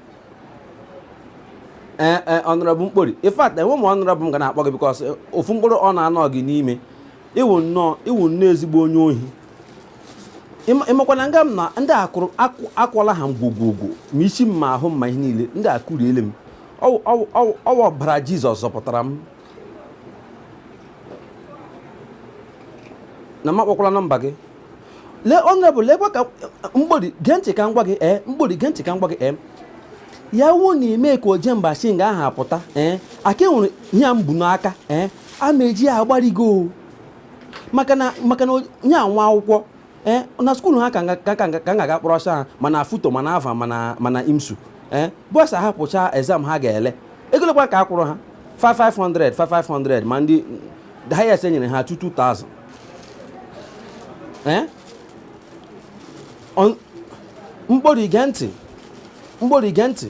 ee Honorable mkpori in fact enwe m Honorable m ga na-akpọ gị because ofu mkpụrụ ọ na-anọ gị n'ime ị wụ nnọọ ị wụ nnọọ ezigbo onye ohi ị makwa na nga m nọ ndị akụrụ akwụla ha ngwogwogwo ma isi m ma ahụ m ma ihe niile ndị akụriele m ọ wụ ọbara Jizọs zọpụtara m na m akpọkwala nọmba gị lee Honorable lekwa ka mkpori gee ntị ka m gwa gị ee mkpori gee ntị ka m gwa gị ee ya wuo na i mee ka oje mba shi nga aha apụta ee aka enwere ihe a m bu n'aka ee a ma eji ya agbarigo maka na maka na onye anwa akwụkwọ ee na school ha ka ga-aga kpọrọ ọsọ ha ma na FUTO ma na Alvan ma na ma na IMSU ee bọs ahapụcha exam ha ga-ele ego lekwa ka a kwụrụ ha 500 500 ma ndị the highest enyere ha 2000 ee mkpori i gee ntị mkpori i gee ntị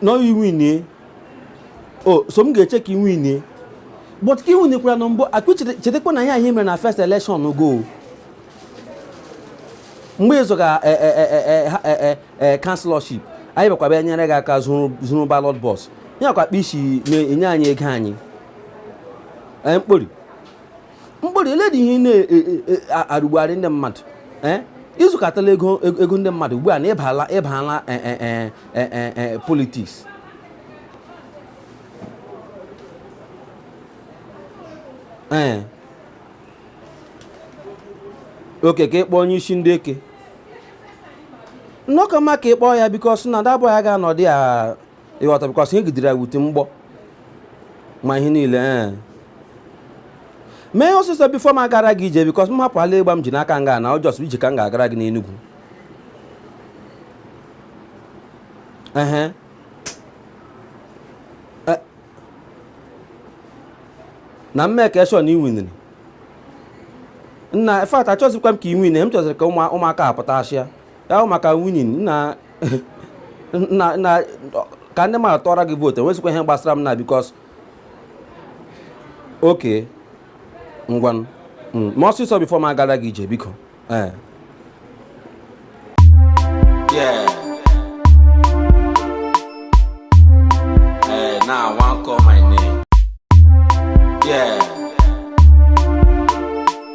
na i winie o so m ga-eche ka i winie but ka i winikwara na mbụ akụ chetakwa na ihe anyị mere na first election go mgbe ị zọga councillorship anyị bịakwa bịa nyere gị aka zuru ballot box ya kwa akpa isi na-enye anyị ego anyị mkpori mkpori lee dị ihe na-arụgbugharị e, e, e, ndị mmadụ i zukọtala ego ego ndị mmadụ ugbu a na ị bala ị bala politics ee okay ka ị kpọọ onye isi ndị eke na ọ ka mma ka ị kpọọ ya because na dabụ ya ga-anọdụ ya ị ghọta because ihe gidere ya wute mgbọ ma ihe niile ee mee ihe ọsịsọ before m agara gị ije because m hapụ ala ịgba m ji n'aka nga na ọ just ije ka m ga-agara gị n'enugwu ehe E- na m make sure na i winiri nna in fact achọzikwa m ka i win m chọziri ka ụmụ- ụmụaka apụta achịa ya bụ maka winning na na na ka ndị mmadụ tụọra gị vote enwezikwa ihe gbasara m na because okay ngwanụ Mm, ma ọsịsọ before m agara gị ije biko ee Yeah. Eh, now I want call my name. Yeah.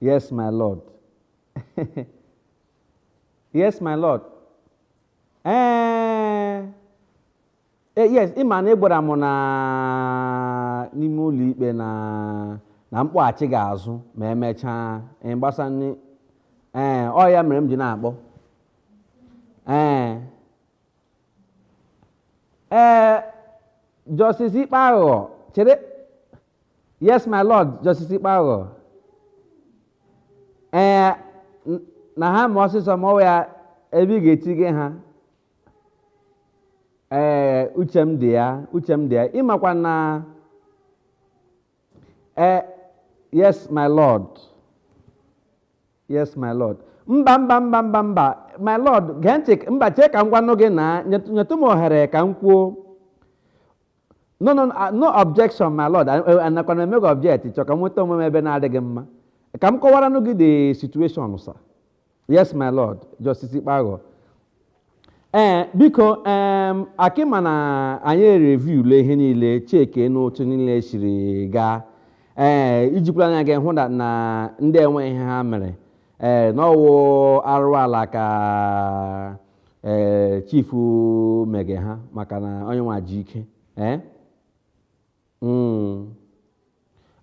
Yes, my Lord. yes, my Lord. Ee, eh, eh, yes, ị ma na ị gwara m na n'ime ụlọ ikpe na na mkpọghachi ga-azụ ma emechaa gbasa nri ee eh, ọ ya mere m ji na-akpọ ee ee Justice Ikpeaghọ chere Yes, my lord, Justice Ikpeaghọ. Ee, n- na ha ma ọsịsọ ma ọ ya ebe ị ga-etige ha. Ee, uche m dị ya, uche m dị ya. Ị makwa na ee, yes, my lord. Yes, my lord. Mba, mba, mba, mba, mba. My lord, gee ntị, mba, chee ka m gwanụ gị na nyetụ nyetụ m ohere ka m kwuo. no no no, no objection my lord anakwa na emego object chọ ka m nweta onwe m ebe na-adịghị mma ka m kọwaranụ gị the situation sir yes my lord justice ikpeaghọ ee biko em a- ị ma na anyị review le ihe niile checkie n'otu niile siri gaa ee i jikwara anya gị hụ na- na ndị a enwe ihe ha mere ee na ọ wụ arụ ala ka ee chief mege ha maka na onye nwa ji ike ee Mm.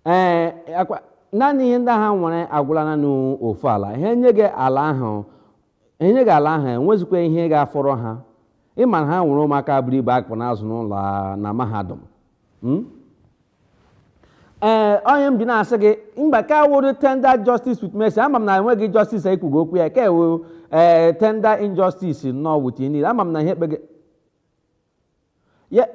ee ọ kwa naanị ihe ndị ha nwere agwụla naanị ofu ala ha nye gị ala ahụ ha nye gị ala ahụ enwezikwa ihe ga-afọrọ ha ị ma na ha nwere ụmụaka buru ibu a kpụ na-azụ n'ụlọ a- na mahadum Mm? ee ọ ihe m ji na-asị gị mba ka ọ wụrụ tender justice with mercy ama m na enweghị justice anyị kwugo okwu ya ka ewu ee tender injustice nnọọ with niile ama m na ihe ekpe gị Ya-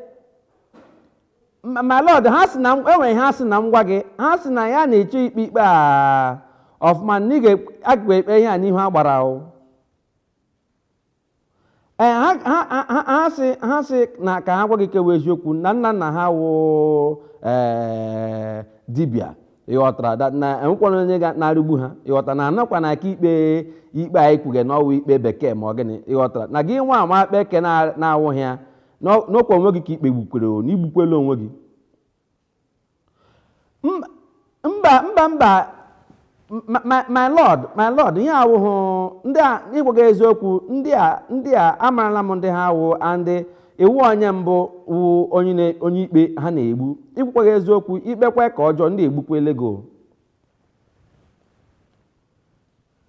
my my lord ha sị na m- enwere ha sị na m gwa gị ha sị na ya na-eche ikpe ikpe a ọfụma na ị ga-ekpe ihe a n'ihu agbara o ee ha ha- ha- ha- ha sị ha sị na ka ha gwa gị ke wụ eziokwu na nna nna ha wụ ee dibịa ịghọtara da- na enwekwana onye ga na-erigbu ha ịghọtara na anọkwa na aka ikpe ikpe anyị kwuge na ọwụ ikpe bekee ma ọ gịnị ịghọtara na gị nwa ama kpee ke na- na-awụghị ya n'ọkwa onwe gị ka i kpegbukwere o na igbukwere onwe gị mba mba mba my lord my lord ihe awụhụ ndị a ịgwa gị eziokwu ndị a ndị a amarala m ndị ha wụ and ị wụ onye mbụ wụ onye onye ikpe ha na-egbu ịgwakwaghị eziokwu ikpekwa ke ọjọọ ndị egbukwala gị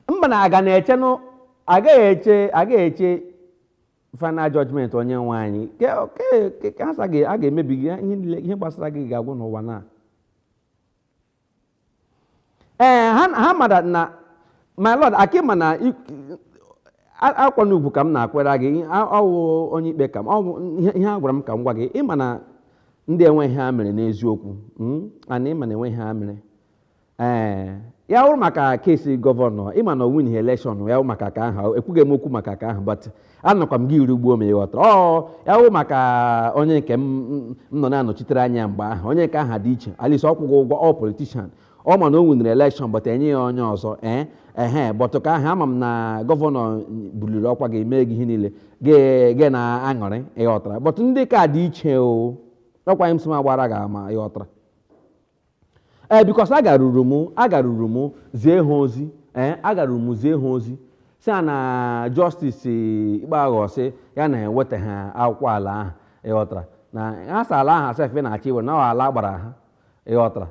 o mba na aga na-eche agaghị eche agaghị eche final judgment onye nwe anyị Ke- ke- ke- ka ha sị a ga- a ga-emebi gị ihe niile- ihe gbasara gị ga-agwụ n'ụwa na ee ha ha mara na my lord aka ịma na i- a- akwa na ugwu ka m na-akwanyere gị ihe- a- ọ wụ onye ikpe ka m ọ bụ ihe ihe a gwara m ka m gwa gị ịma na ndị a enweghị ihe ha mere n'eziokwu mm, and ịma na enweghị ihe ha mere Ee, ya wụrụ maka case governor ịma na o winighị election ya wụ maka ke ahụ ekwughị m okwu maka ke ahụ but anọkwa m gị erigbuo m ị ghọtara ọ ya wụ maka onye nke m m- m nọ na-anọchitere anya ya mgbe ahụ onye nke ahụ dị iche at least ọ kwụghị ụgwọ ọ politician ọ ma na o winiri election but enye ya onye ọzọ ee ehe but ke ahụ ama m na governor buliri ọkwa gị mee gị ihe niile gị gị na aṅụrị ị ghọtara but ndị ke a dị iche o ọkwa a sị m gbaara gị ama ị ghọtara ee because agaruru m agaruru m zie ha ozi ee agaruru m zie ha ozi sị ha na Justice Ikpeaghọ sị ya na ha ewetahụ akwụkwọ ala ahụ ịghọtara na ha sị ala ahụ sef na-achọ iwere na ọ ala agbara ha ịghọtara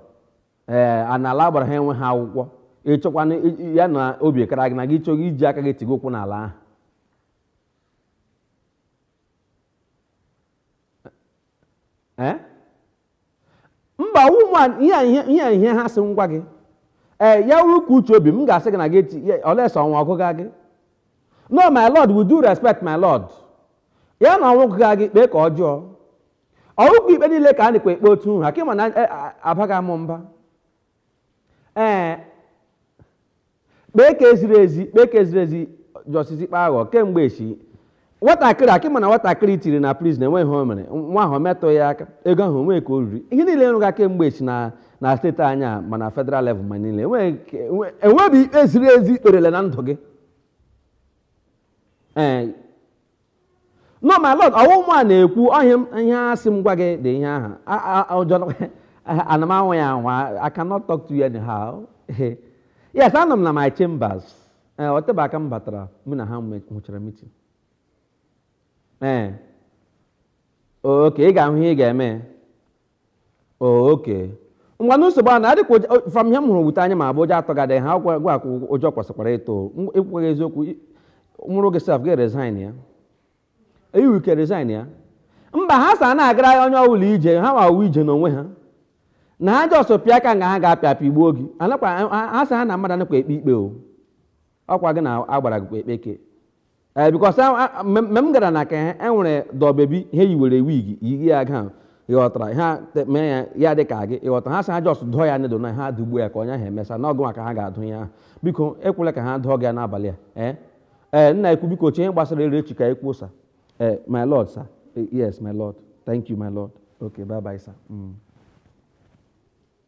ee a na ala agbara ha enwehụ akwụkwọ ịchọkwana i- ya na obi kara gị na gị chọghị iji aka gị tigo ụkwụ n'ala ahụ ee mba ụmụ a- ihe a- ihe ihe a- ihe ha sị m gwa gị ee ya wụrụkwa uche obi m ga-asị gị na gị eti ya- unless ọnwụ gụga gị no my lord with due respect my lord ya na ọnwụ gụga gị kpee ke ọjọọ ọ wụhụkwa ikpe niile ka a nakwa ekpe otu ahụ aka ịma na eh, ah, abaghị amụ mba ee kpee ke ziri ezi kpee ke ziri ezi Justice Ikpeaghọ kemgbe echi nwatakịrị aka ịma na nwatakịrị i tiri na prison enweghị ihe o mere nwa ahụ metụ ya aka ego ahụ o nwe ke o riri ihe niile ị rụga kemgbe echi na na state anyị a ma na federal level ma niile enweghị ikpe ziri ezi ikperele na ndụ gị ee No my lord, ọwụ mụa na-ekwu ọhịa m- ihe a sị m gwa gị dị ihe ahụ. A- a- a- ụjọ nọ- Ana m anwa ya anwa. I cannot talk to you anyhow. Yes, anọ m na my chambers. Ee, o tebe aka m batara mụ na ha nwe- nwechara meeting. Ee. Oke, ị ga-ahụ ihe ị ga-eme. oke ngwanụ nsogbu ana adịkwa ụjọ- from ihe m hụrụ with anya m abụọ ụjọ atụgadị ha gịwa gịwa ka ụjọ kwesịkwara ịtụ M- ekwughị eziokwu i- m wụrụ gị sef gị resign ya eyiwu ike resign ya mba ha sị ana agara ya onye ọbụla ije ha ma wụ ije n'onwe ha na ha just pịa ka nga ha ga-apịa apịagbuo gị anakwa ha- ha sị ha na mmadụ anakwa ekpe ikpe o ọkwa gị na agbara gị ekpeke ee because mgbe m gara na nke ha e nwere doll baby ha yiwere wig yighi ya ga ịghọtara ha te- mee ya ya dị ka gị ịghọtara ha sị ha just dụọ ya needle na ha dụgbuo ya ka onye ahụ emesa n'ọgụ maka ha ga-adụ ya ahụ biko ekwela ka ha dụọ gị ya n'abalị a ee ee m na-ekwu biko chee ihe gbasara ya echi ka anyị kwuo sa ee my lord sir Eh, yes my lord thank you my lord okay bye bye sir Mm.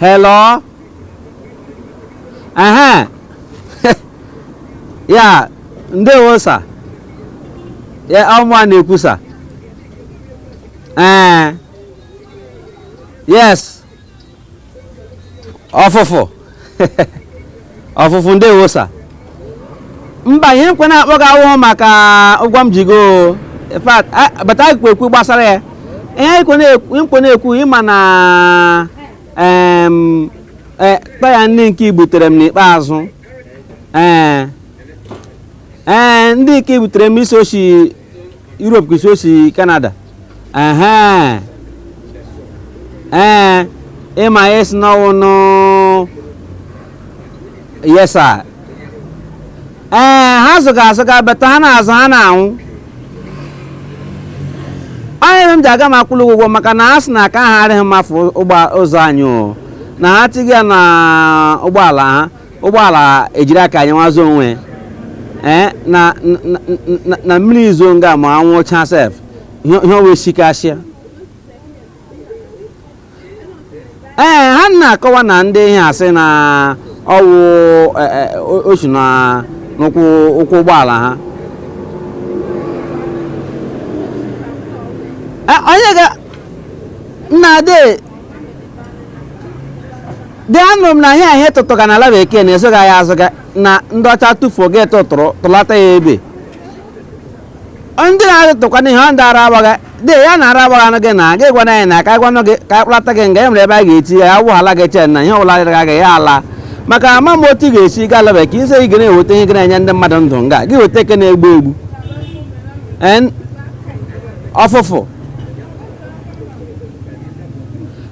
Hello? Aha. ya, ndewo sa. Ya ọ mụa na-ekwu sa. Ee. Yes. ọfụfụ ọfụfụ ndewo sa mba ihe m kwọ na-akpọ gị awụhụ maka ụgwọ m ji gị o in fact a- bata ekwu okwu gbasara ya ihe m kwọ na-ekwu m kwọ na-ekwu ịma na em, eh, taya ndị nke i butere m n'ikpeazụ ee ee ndị nke i butere m ị sị o shi Europe ka ị sị o si Canada ehe ee ịma ị sị na ọwụ new yes sa ee ha zụga azụga but ha na-azụ ha na new ọ ihe mere m ji aga m akwụli gị ụgwọ maka na a sị na aka ha arịghị mma for ụzọ anyị o na ha tighị ya na ụgbọala ha ụgbọala ejiri aka anyị nwazụ onwe ee na na mmiri zo nga ma anwụ cha sef ihe ọwa esikasịa ee ha na-akọwa na ndị ihe a sị na ọwụ e, e, o shi na n'ụkwụ ụkwụ ụgbọala ha e, onye ga nna ade dị anụrụ m na ihe ihe tụtụga na ala bekee na-ezoga ya azụga na ndị ọcha tụfuo gị atụtụrụ tụlata ya ebe ndị na-atụtụkwa n'ihe ọ ndị ara agbaga dị ya na ara agbaga anụ gị na gị gwana anyị na ka anyị gwanụ gị ka anyị kpụlata gị nga e nwere ebe a ga-eti ya awụ ala gị chee na ihe ọbụla dịrị gị ya ala maka ama m otu ị ga-esi gaa ala bekee ise ị ga na-eweta ihe gị na-enye ndị mmadụ ndụ nga gị weta eke na-egbu egbu ọfụfụ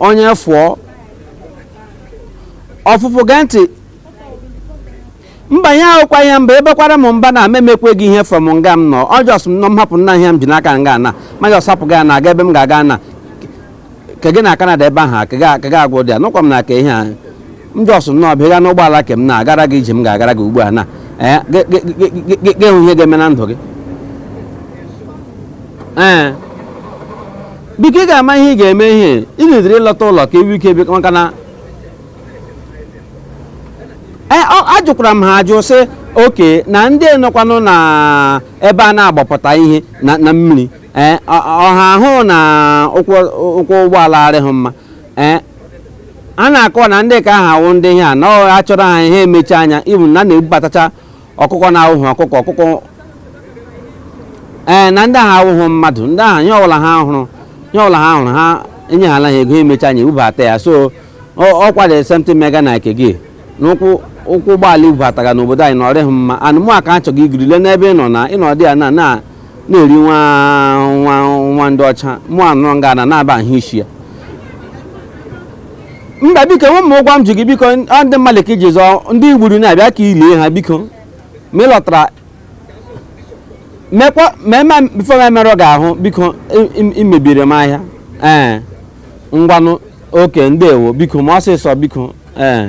onye fụọ ọfụfụ gee ntị mba ya wụkwa ihe mba abakwara m mba na m emekwe gị ihe from nga m nọ just m nọ m hapụ nna ihe m ji n'aka nga na ma just hapụ gị na aga ebe m ga-aga na ke gị na Canada ebe ahụ ka ga- ka ga agwụ dị ya nụkwa m na ka ihe a m just nnọọ bịa gaa n'ụgbọala ke m na-agara gị ije m ga-agara gị ugbu a na ee gị- gị- gị- gị- gị- gị hụ ihe ga-eme na ndụ gị ee biko ị ga-ama ihe ị ga-eme ihe ị na-edere ịlọta ụlọ ka ewu ike biko maka na Eh, ọ- ajụkwara m ha ajụ sị okay na ndị nọkwanụ na ebe a na-agbapụta ihe na na mmiri eh, ọ- ọha ahụ na ụkwụ ụkwụ ụgbọala arịghị mma eh, a na-akọ na ndị ka ha wụ ndị ihe a na a chọrọ ha ihe emechi anya ibu na a na-ebubatacha ọkụkọ na-awụghị ọkụkọ ọkụkọ ee eh, na ndị ahụ awụghị mmadụ ndị ahụ nye ọbụla ha hụrụ nye ọbụla ha hụrụ ha enyehala ha ego emechi anya ebubata ya so ọkwa dị something mega na ke gị n'ụkwụ ụkwụ ụgbọala i bubatara n'obodo anyị na ọ rịghị mma and mụwa ka achọghị igiri le n'ebe ị nọ na ịnọdị ya na na na-eri nwa nwa nwa ndị ọcha mụ anụrụ nga na na-aba ahụ isi ya mba biko nwe m ụgwọ m ji gị biko ọ ndị mmadụ ka i ji zọọ ndị i gburu na-abịa ka i lie ha biko ma ị lọtara mekwa ma eme before m emerụ gị ahụ biko i- i- i mebiri m ahịa ee ngwanụ okay ndewo biko mee ọsịsọ biko ee